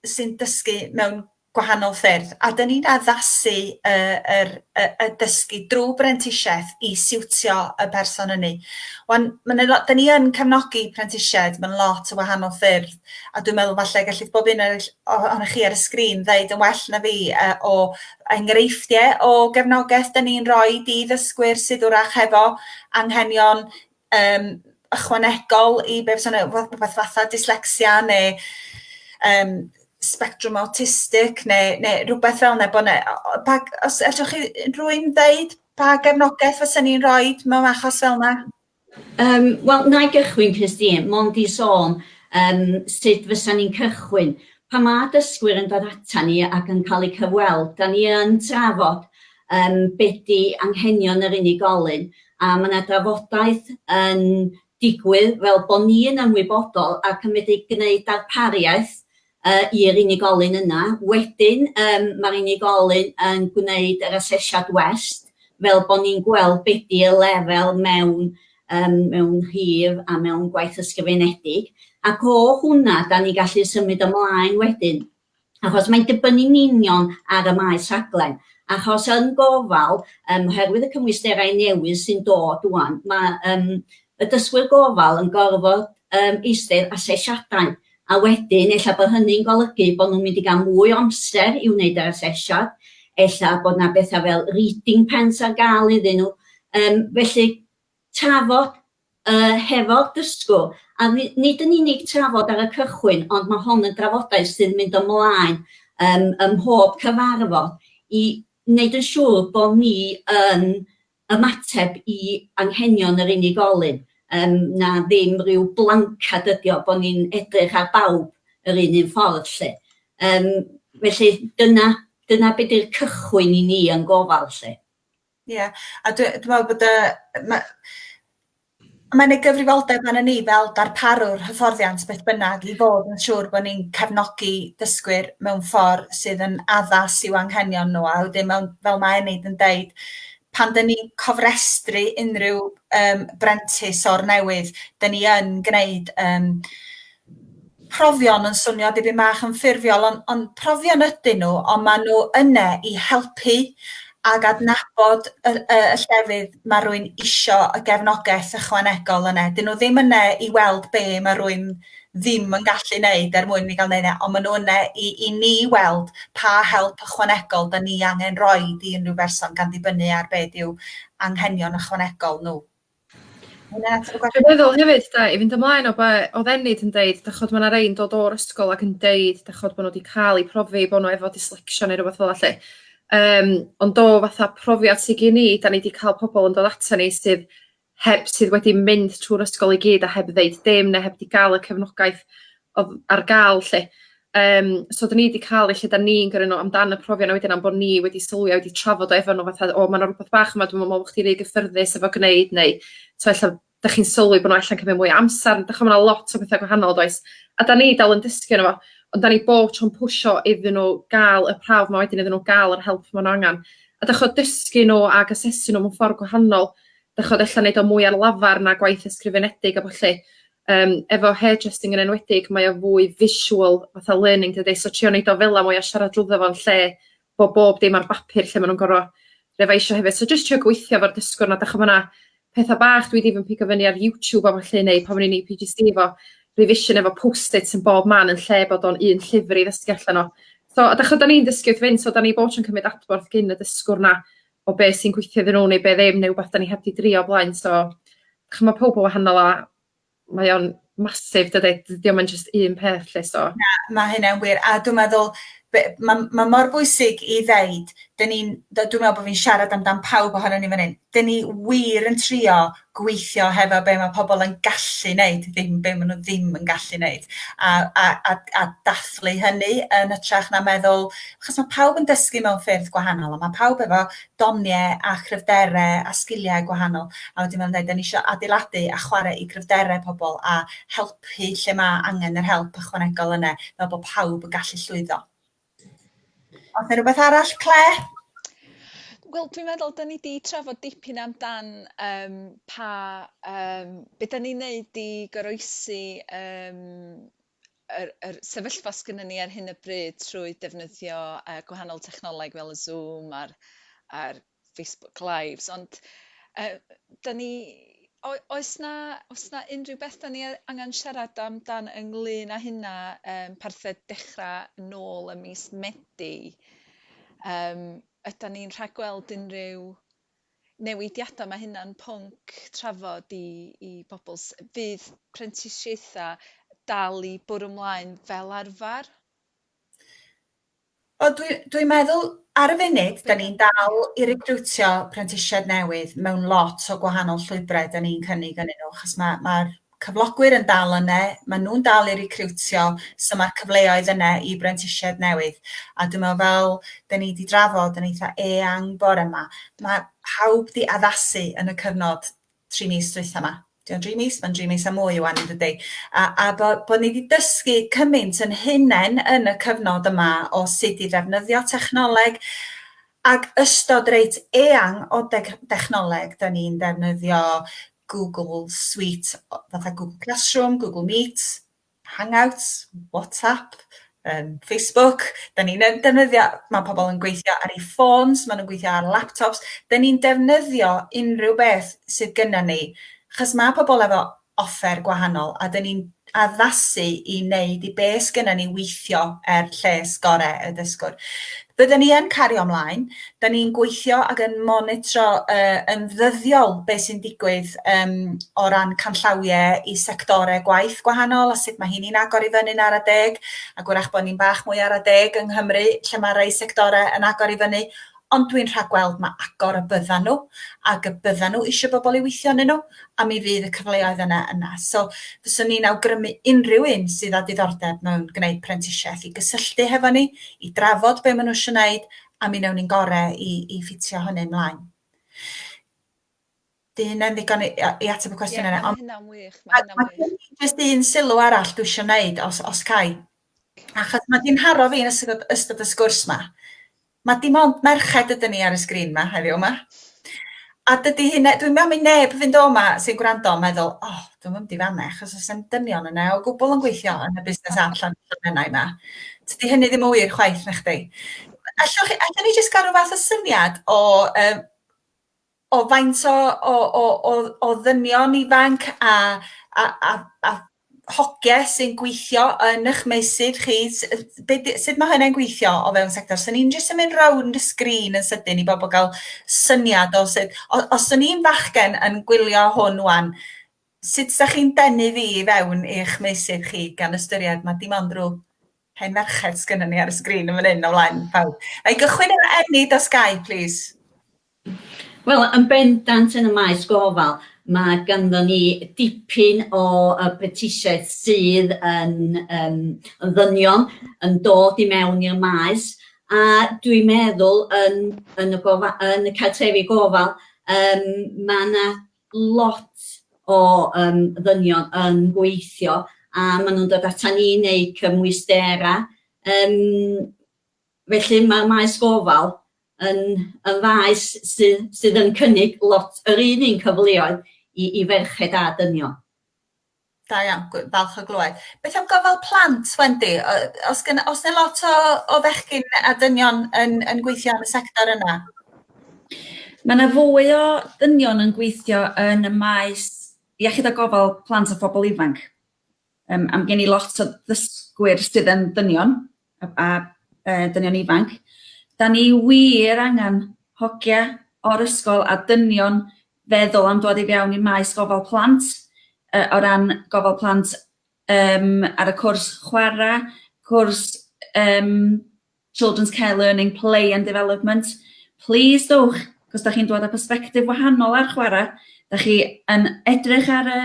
Speaker 1: sy'n dysgu mewn gwahanol ffyrdd, a 'dyn ni'n addasu y yr y y dysgu drw brentisieth i siwtio y person ynny. Wan ma' 'na lo- 'dyn ni yn cefnogi prentisiaid mewn lot o wahanol ffyrdd a dwi'n meddwl falle gellith bob un o'r o- ohonoch chi ar y sgrin ddeud yn well na fi yy o enghreifftie o gefnogaeth 'dyn ni'n roid i ddysgwyr sydd 'w'rach hefo anghenion um, ychwanegol i beth sy'n rhywbeth fatha dyslexia neu um, spectrum autistic neu, neu rhywbeth fel yna. Bod ne, pa, os allwch chi rwy'n ddeud pa gefnogaeth fysa ni'n rhoi mewn achos fel yna? Um, Wel, na i gychwyn, Christine, mond i sôn um, sut fysa ni'n cychwyn. Pa mae dysgwyr yn dod ata ni ac yn cael eu cyfweld, da ni yn trafod yym be di anghenion yr unigolyn a ma' 'na drafodaeth yn digwydd fel bo ni yn ymwybodol ac yn medru gneud darpariaeth yy i'r unigolyn yna. Wedyn yym ma'r unigolyn yn gwneud yr asesiad west fel bo ni'n gweld be di y lefel mewn yym mewn rhif a mewn gwaith ysgrifenedig ac o hwnna 'dan ni'n gallu symud ymlaen wedyn. achos mae'n dibynnu'n union ar y maes rhaglen, achos yn gofal, um, oherwydd y cymwysterau newydd sy'n dod wan, mae um, y dysgwyr gofal yn gorfod um, eistedd asesiadau, a wedyn efallai bod hynny'n golygu bod nhw'n mynd i gael mwy o amser i wneud yr asesiad, efallai bod yna bethau fel reading pens ar gael iddyn nhw. Um, felly, trafod yy hefo'r dysgwr, a ni- nid yn unig trafod ar y cychwyn, ond mae hon yn drafodaeth sy'n mynd ymlaen yym ym mhob cyfarfod i wneud yn siŵr bod ni yn ymateb i anghenion yr unigolyn, yym na ddim ryw blancad ydi o, bod ni'n edrych ar bawb yr un un ffordd 'lly. Yym felly dyna dyna be' 'di'r cychwyn i ni yn gofal 'lly. Ie a dwi dwi me'wl bod y ma' mae'n ei gyfrifoldeb arnon ni fel darparwr hyfforddiant beth bynnag i fod yn siŵr bo' ni'n cefnogi dysgwyr mewn ffor sydd yn addas i'w anghenion n'w a wedyn mewn fel ma' Enid yn deud pan 'dyn ni'n cofrestru unryw yym brentis o'r newydd 'dyn ni yn gneud yym profion yn swnio dipyn bach yn ffurfiol ond, ond profion ydyn nhw ond maen nhw yna i helpu ac adnabod y, y, y llefydd mae rwy'n isio y gefnogaeth ychwanegol yna. Dyn nhw ddim yna i weld be mae rwy'n ddim yn gallu wneud er mwyn mi gael wneud e, ond maen nhw yna i, i ni weld pa help ychwanegol da ni angen roi i unrhyw berson gan ddibynnu ar be yw anghenion ychwanegol nhw. Dwi'n meddwl hefyd da, i fynd ymlaen o be oedd Enid yn deud, da chod mae yna rei'n dod o'r ysgol ac yn deud da chod bod nhw wedi cael eu profi bod nhw efo dyslexia neu rhywbeth fel allu. Um, ond do fatha profiad sydd gen i, da ni wedi cael pobl yn dod ato ni sydd heb sydd wedi mynd trwy'r ysgol i gyd a heb ddeud dim neu heb wedi gael y cefnogaeth odd ar ga'l 'lly yym so 'dyn ni 'di ca'l y lle 'dan ni'n gyrru n'w amdan y profion a wedyn am bo' ni wedi sylwi a wedi trafod o efo n'w fatha o ma' 'na rwbath bach yma dwi'm yn me'wl bo' chdi rhy gyffyrddus efo gneud neu t'o' ella 'dach chi'n sylwi bo' n'w ella'n cymyd mwy o amsar dych ch'mo' ma' 'na lot o betha gwahanol does? A 'dan ni dal yn dysgu yno fo ond 'dan ni bob tro'n pwsho iddyn n'w ga'l y prawf 'ma wedyn iddyn n'w ga'l yr help ma' n'w angan. A d'ych ch'od dysgu n'w ag asesu n'w mewn ffor gwahanol d'ych ch'od ella neud o mwy ar lafar na gwaith ysgrifenedig a ballu. Yym efo hair trusting yn enwedig mae o fwy visual fatha learning dydi so trio neud o fela mwy a siarad drwddo fo yn lle bo' bob dim ar bapur lle ma' nw'n gor'o' refaisio hefyd so jyst trio gweithio efo'r dysgwr 'na 'dach ch'mo' ma' 'na petha bach dwi 'di fy mpigo fyny ar YouTube a ballu neu pan o'n i'n Ee Pee Gee See efo revision efo post its yn bob man yn lle bod o'n un llyfr i ddysgu allan o. So a 'dach ch'od 'dan ni'n dysgu wrth fynd so 'dan ni bob tro'n cymryd adborth gin y dysgwr 'na o be sy'n gweithio iddyn nhw neu be ddim neu wbath 'dan ni heb 'di drio o blaen so ch'mo' ma' powb yn wahanol a mae o'n massive dydi? D- 'di o'm yn jyst un peth 'lly so... Na ma' hynna'n wir a dwi meddwl be- ma' ma' mor bwysig i ddeud 'dyn ni'n d- dwi me'wl bo' fi'n siarad amdan pawb ohonon ni fan 'yn 'dyn ni wir yn trio gweithio hefo be' ma' pobol yn gallu neud ddim be' ma' nw ddim yn gallu neud a a a a dathlu hynny yn hytrach na meddwl achos ma' pawb yn dysgu mewn ffyrdd gwahanol a ma' pawb efo donie a chryfdere a sgilie gwahanol a wedyn ma' nw'n deud 'dan ni isio adeiladu a chware i gryfdere pobol a helpu lle ma' angen yr help ychwanegol yne fel bo' pawb yn gallu llwyddo. Oes yna rhywbeth arall, Clare? Wel dwi'n meddwl da ni 'di trafod dipyn amdan yym pa yym be' 'dan ni'n neud i goroesi yym yr yr sefyllfa sgynnon ni ar hyn o bryd trwy defnyddio yy gwahanol technoleg fel y Zoom a'r a'r Facebook lives ond yy da ni o- oes 'na oes 'na unrhyw beth 'da ni yy angan siarad amdan ynglŷn â hynna yym parthed dechra nôl ym mis Medi yym ydan ni'n rhagweld unrhyw newidiada ma' hynna'n pwnc trafod i i bobol s- fydd prentisiaetha dal i bwrw 'mlaen fel arfar? Wel dwi dwi'n meddwl ar y funud 'dan ni'n dal i recriwtio prentisiaid newydd mewn lot o gwahanol llwybrau 'dan ni'n cynnig ynnyn nhw achos ma' ma'r cyflogwyr yn dal yne, ma' nhw'n dal i recriwtio so ma'r cyfleoedd yne i brentisiaid newydd a dwi me'wl fel 'dan ni 'di drafod yn eitha eang bore 'ma ma' pawb 'di addasu yn y cyfnod tri mis dwytha ma. Di o'n dri mis? Mae'n dri mis a mwy wan yn dydy. A, a bo, bo ni wedi dysgu cymaint yn hunain yn y cyfnod yma o sut i ddefnyddio technoleg ac ystod reit eang o deg, dechnoleg. Da ni'n defnyddio Google Suite, fatha Google Classroom, Google Meet, Hangouts, WhatsApp, yym Facebook, 'dan ni'n yn defnyddio... Ma' pobol yn gweithio ar 'u ffôns, ma' nw'n gweithio ar laptops, 'dan ni'n defnyddio unryw beth sydd gynnon ni, 'chos ma' pobol efo offer gwahanol, a 'dan ni'n addasu i neud i be' sgynnon ni weithio er lles gore' y dysgwr. Fydden ni yn cario ymlaen. Da ni'n gweithio ac yn monitro uh, yn ddyddiol beth sy'n digwydd um, o ran canllawiau i sectorau gwaith gwahanol a sut mae hynny'n agor i fyny'n ara deg, ac wrach bod ni'n bach mwy ara deg yng Nghymru lle mae rhai sectorau yn agor i fyny, ond dwi'n rhagweld mae agor y byddan nhw ac y byddan nhw eisiau bobl i weithio yn nhw a mi fydd y cyfleoedd yna yna. So fyswn i'n awgrymu unrhyw un sydd â diddordeb mewn gwneud prentisiaeth i gysylltu hefo ni, i drafod be maen nhw eisiau gwneud, a mi wnewn ni'n gorau i, i ffitio hynny ymlaen. Di hynna'n ddigon i, i ateb y cwestiwn yna. Ie, mae hynna'n wych, mae hynna'n wych. Mae jyst un sylw arall dwi eisiau gwneud, os, os cai. Achos mae di'n haro fi yn ystod, ystod y sgwrs ma. Mae dim ond merched ydyn ni ar y sgrin ma heddiw yma. A dydy hyn, dwi'n meddwl mi neb fynd o yma sy'n gwrando yn meddwl, o, oh, dwi'n mynd i fanna, achos os yw'n dynion yna o gwbl yn gweithio yn y busnes app llan llannennau yma. Dydy hynny ddim yn wir chwaith na chdi. Allwch chi, allwn ni jyst gael rhyw fath o syniad o um, o faint o o o o o ddynion ifanc a a a a hogie sy'n gweithio yn eich meysydd chi? S- yy be' 'di... Sut ma' hynna'n gweithio o fewn sector? 'Sen ni'n jyst yn mynd rownd y sgrîn yn sydyn i bobl gael syniad o sut... O- os o'n i'n fachgen yn gwylio hwn ŵan, sut 'sa chi'n denu fi i fewn i'ch meysydd chi, gan ystyried ma' dim ond rhyw hen ferched sgynnon ni ar y sgrîn yn fan 'yn o flaen pawb. Wna i gychwyn efo Enid os gai plîs. Wel, yn bendant yn y maes gofal, mae ganddo ni dipyn o uh, brentisiaeth sydd yn, um, yn ddynion yn dod i mewn i'r maes, a dwi'n meddwl yn, yn, y, gofa, yn y cartrefi gofal, um, mae yna lot o um, ddynion yn gweithio a maen nhw'n dod ata ni neu cymwysterau um, Felly mae'r maes gofal yn yn faes sydd sydd yn cynnig lot yr un un cyfleoedd i i ferched a dynion. Da iawn, gw- falch o glywed. Beth am gofal plant, Wendy? O- Os gen- oes 'na lot o o fechgyn a dynion yn yn gweithio yn y sector yna? Mae yna fwy o dynion yn gweithio yn y maes iechyd a gofal plant a phobl ifanc. Um, am gen i lot o ddysgwyr sydd yn dynion, a, a e, dynion ifanc, da ni wir angen hogia o'r ysgol a dynion feddwl am dod i fewn i maes gofal plant, e, o ran gofal plant um, ar y cwrs chwarae, cwrs um, Children's Care Learning, Play and Development. Please dwch, cos da chi'n dod â perspektif wahanol ar chwarae, da chi yn edrych ar y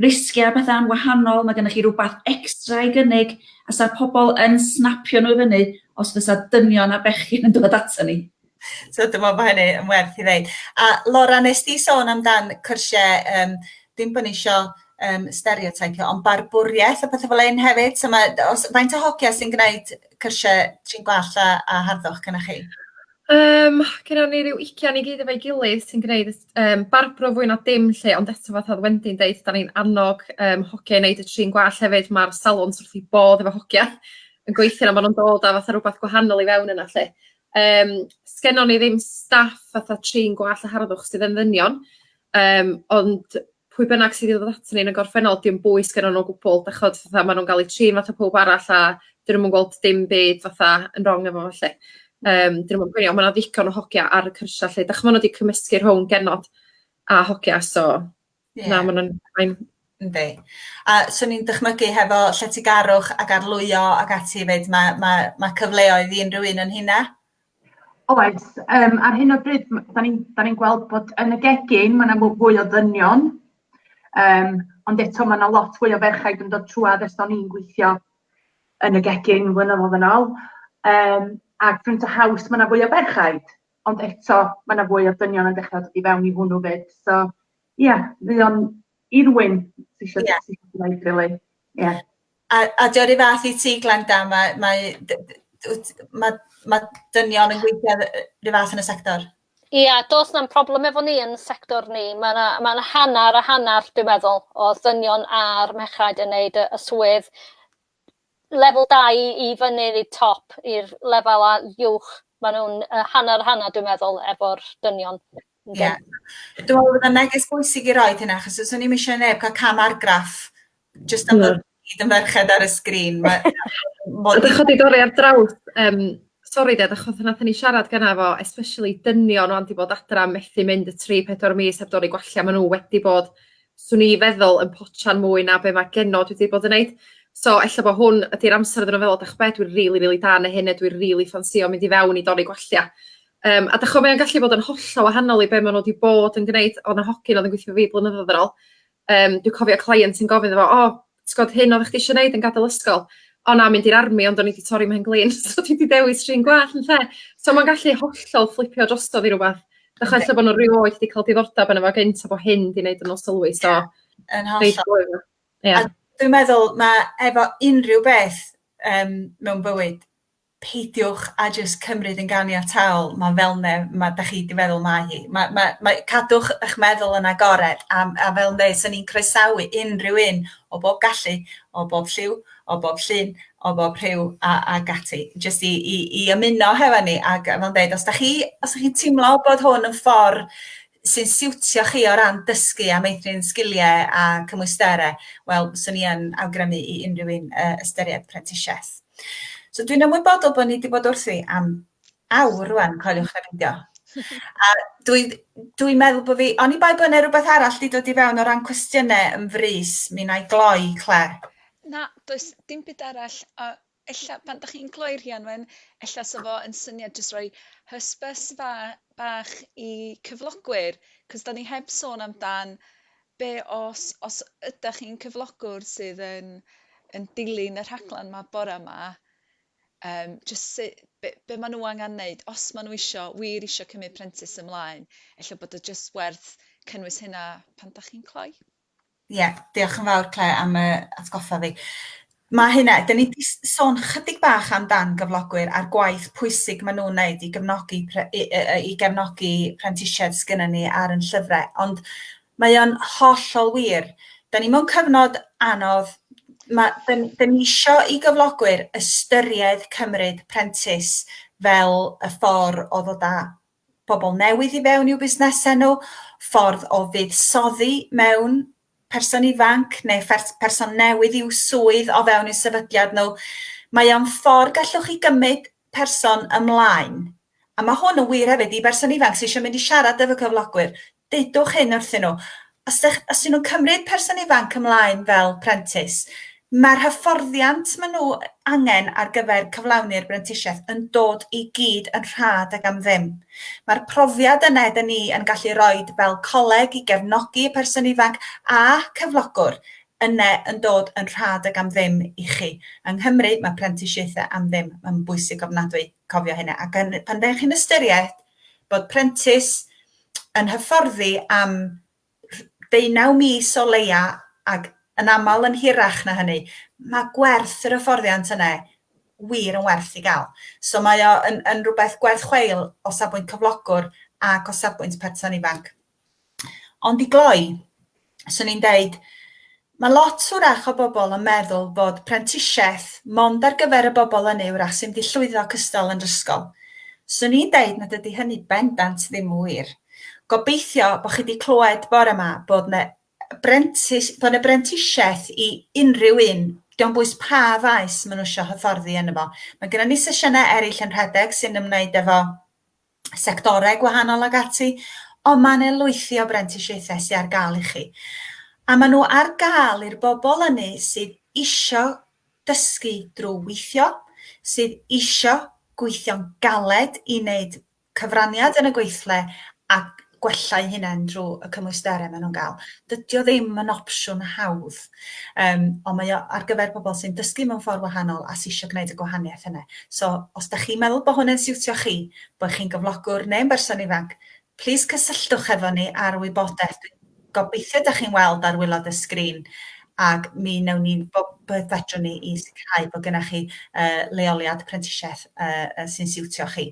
Speaker 1: Risgiau a pethau yn wahanol, mae gennych chi rywbeth extra i gynnig a 'sa'r pobl yn snapio nhw i fyny os fysa dynion a bechgyn yn dod ato ni. So dwi'n meddwl bod hynny yn werth i ddeud. A Laura, nes di sôn amdan cyrsiau, um, dim bod ni eisiau um, stereotypio, ond barbwriaeth a pethau fel hyn hefyd. So mae, os, faint o hogia sy'n gwneud cyrsiau trin gwall a, a harddwch gyda chi? Yym gennon ni ryw ugian i gyd efo'i gilydd sy'n gneud y s- yym barbro fwy na dim 'lly ond eto fatha o'dd Wendy'n deud 'dan ni'n annog yym hogia i neud y trin gwallt hefyd ma'r salons wrth 'u bodd efo hogia yn gweithio a ma' nw'n dod â fatha rwbath gwahanol i fewn yna 'lly yym sgennon ni ddim staff fatha trin gwallt a harddwch sydd yn ddynion yym ond pwy bynnag sydd i ddod aton ni yn y gorffennol 'di o'm bwys gennyn nw o gwbwl dych ch'od fatha ma' nw'n ga'l 'u trin fatha powb arall a 'dyn nw'm yn gweld dim byd fatha yn rong efo fo 'lly. Yym 'dyn nw'm yn poeni on' ma' 'na ddigon o hogia ar y cyrsia 'lly dych ch'mo' ma' n'w 'di cymysgu rhwng genod a hogia so na ma' nw'n fine. Yndi. A swn i'n dychmygu hefo lletygarwch ac arlwyo ac ati 'fyd ma' ma' ma' cyfleoedd i unryw un o'n rheina. Oes, um, ar hyn o bryd, da ni'n ni gweld bod yn y gegin, mae yna fwy o ddynion, um, ond eto mae yna lot fwy o ferchaid yn dod trwad ers o'n i'n gweithio yn y gegin flynyddoedd yn ôl. Um, ac Front a House, mae yna fwy o ferchaid, ond eto mae yna fwy o ddynion yn dechrau dod i fewn i hwnnw fyd. So, ie, yeah, mae o'n irwyn sy'n eisiau yeah. gwneud, really. Yeah. A a 'di o 'run fath i ti Glenda ma' mae dy- dy- wt ma' ma' dynion yn gweithio yy 'run fath yn y sector? Ia do's na'm problem efo ni yn sector ni ma' 'na ma' 'na hannar a hannar dwi meddwl o ddynion a'r merchaid yn neud y y swydd lefel dau i fyny i top i'r lefela uwch ma' nw'n yy hannar a hannar dwi'n meddwl efo'r dynion. Ie. Dwi'n meddwl bod o'n neges bwysig i roid hynna achos os o'n i'm eisiau neb cael cam argraff jyst am bod ni gyd yn ferched ar y sgrin ma' ma' dych chi 'di dod ar draws yym sori ded achos nathon ni siarad gynna' fo especially dynion wan 'di bod adra methu mynd y tri pedwar mis heb dorri gwallt ma' n'w wedi bod swn i feddwl yn potsian mwy na be' ma' genod wedi bod yn neud so ella bo hwn ydi'r amser iddyn n'w feddwl 'dach ch'bod dwi rili rili da yn hyn a dwi rili ffansïo mynd i fewn i dorri gwallt. Yym a 'dych ch'o' mae o'n gallu bod yn hollol wahanol i be' ma' n'w 'di bod yn gneud o' 'na hogyn o'dd yn gwithio 'fo fi blynyddodd yn ôl yym dwi cofio cleient yn gofyn iddo fo o t'god hyn oddach chdi isio neud yn gadol ysgol o na mynd i'r army ond o'n i 'di torri 'mhen-glin so dwi 'di dewis trin gwallt ynde? So ma'n gallu hollol fflipio drosodd i rwbath dach ch'o' ella bo' n'w rioed 'di ca'l diddordab yno fo gynt a bo' hyn 'di neud n'w sylwi so... Yn hollol. ...ia. A dwi'n meddwl ma' efo unryw beth yym mewn bywyd peidiwch a jyst cymryd yn ganiataol ma' fel 'ne ma' 'dach chi 'di feddwl mae hi. Ma' ma' mae cadwch 'ych meddwl yn agored a m- a fel 'ne 'san ni'n croesawu unrhyw un o bob gallu o bob lliw o bob llun o bob rhyw a ag ati jyst i i i ymuno hefo ni ag yy fel yn deud os 'dach chi os y'ch chi'n timlo bod hwn yn ffor sy'n siwtio chi o ran dysgu a meithrin sgilie a cymwystere wel swn i yn awgrymu i unrhyw un yy ystyried prentisieth. So dwi'n ymwybodol bod ni wedi bod wrthi am awr rwan, coeliwch na beidio. A dwi'n dwi meddwl bod fi, o'n i bai bod yna rhywbeth arall wedi dod i fewn o ran cwestiynau yn frys, mi na i gloi, Cle. Na, does dim byd arall. A ella, pan da chi'n gloi Rhianwen, ella sa fo yn syniad jyst rhoi hysbys fa bach i cyflogwyr, cos da ni heb sôn amdan Be os, os ydach chi'n cyflogwr sydd yn yn dilyn y rhaglen 'ma bore 'ma, yym jyst su- be be ma' nhw angen neud os ma' nhw isio, wir isio cymryd prentis ymlaen, ella bod o jyst werth cynnwys hynna pan dach chi'n cloi? Ie, diolch yn fawr Clare am yy atgoffa fi. Mae hynna, dan ni wedi sôn chydig bach amdan gyflogwyr a'r gwaith pwysig maen nhw'n wneud i gefnogi i gefnogi prentisiaid sgynnon ni ar yn llyfrau, ond mae o'n hollol wir. Dan ni mewn cyfnod anodd, mae, dan, dan ni isio i gyflogwyr ystyried cymryd prentis fel y ffordd o ddod â bobl newydd i fewn i'w busnesau nhw, ffordd o fuddsoddi mewn person ifanc neu person newydd i'w swydd o fewn i'w sefydliad nhw. Mae o'n ffordd gallwch chi gymryd person ymlaen. A mae hwn yn wir hefyd i berson ifanc sydd eisiau mynd i siarad efo cyflogwyr. Dudwch hyn wrthyn nhw, Os dych, os ydyn nhw'n cymryd person ifanc ymlaen fel prentis, mae'r hyfforddiant maen nhw angen ar gyfer cyflawni'r brentisiaeth yn dod i gyd yn rhad ac am ddim. Mae'r profiad yna ydyn ni yn gallu rhoi fel coleg i gefnogi y person ifanc a cyflogwr yna yn dod yn rhad ac am ddim i chi. Yng Nghymru, mae prentisiaethau am ddim. Mae'n bwysig ofnadwy cofio hynna. Ac yn, pan ddech chi'n ystyried bod prentis yn hyfforddi am ddeunaw mis o leia ac yn aml yn hirach na hynny, mae gwerth yr hyfforddiant yna wir yn werth i gael. So mae o yn, yn rhywbeth gwerth chweil o safbwynt cyflogwr ac o safbwynt person ifanc. Ond i gloi, swn i'n deud, mae lot wrach o bobl yn meddwl fod prentisiaeth mond ar gyfer y bobl ynny wrach sy'n mynd i llwyddo cystal yn yr ysgol. Swn i'n deud nad ydy hynny bendant ddim yn wir. Gobeithio bod chi wedi clywed bore yma bod yna brentis, bod yna brentisiaeth i unrhyw un, diolch bwys pa faes maen nhw eisiau hyfforddi yn efo. Mae gennym ni sesiynau eraill yn rhedeg sy'n ymwneud efo sectorau gwahanol ac ati, ond mae yna lwythi o brentisiaethau sydd ar gael i chi. A maen nhw ar gael i'r bobl ynny sydd isio dysgu drwy weithio, sydd isio gweithio'n galed i wneud cyfraniad yn y gweithle a gwella'u hunain drwy y cymwysterau maen nhw'n gael. Dydy o ddim yn opsiwn hawdd, um, ond mae o ar gyfer pobl sy'n dysgu mewn ffordd wahanol a sy'n eisiau gwneud y gwahaniaeth yna. So, os da chi'n meddwl bod hwnna'n siwtio chi, bod chi'n gyflogwr neu'n berson ifanc, plis cysylltwch efo ni ar wybodaeth. Gobeithio da chi'n weld ar wylod y sgrin ac mi wnawn ni bob beth fedrwn ni i sicrhau bod gennych chi uh, leoliad prentisiaeth uh, sy'n siwtio chi.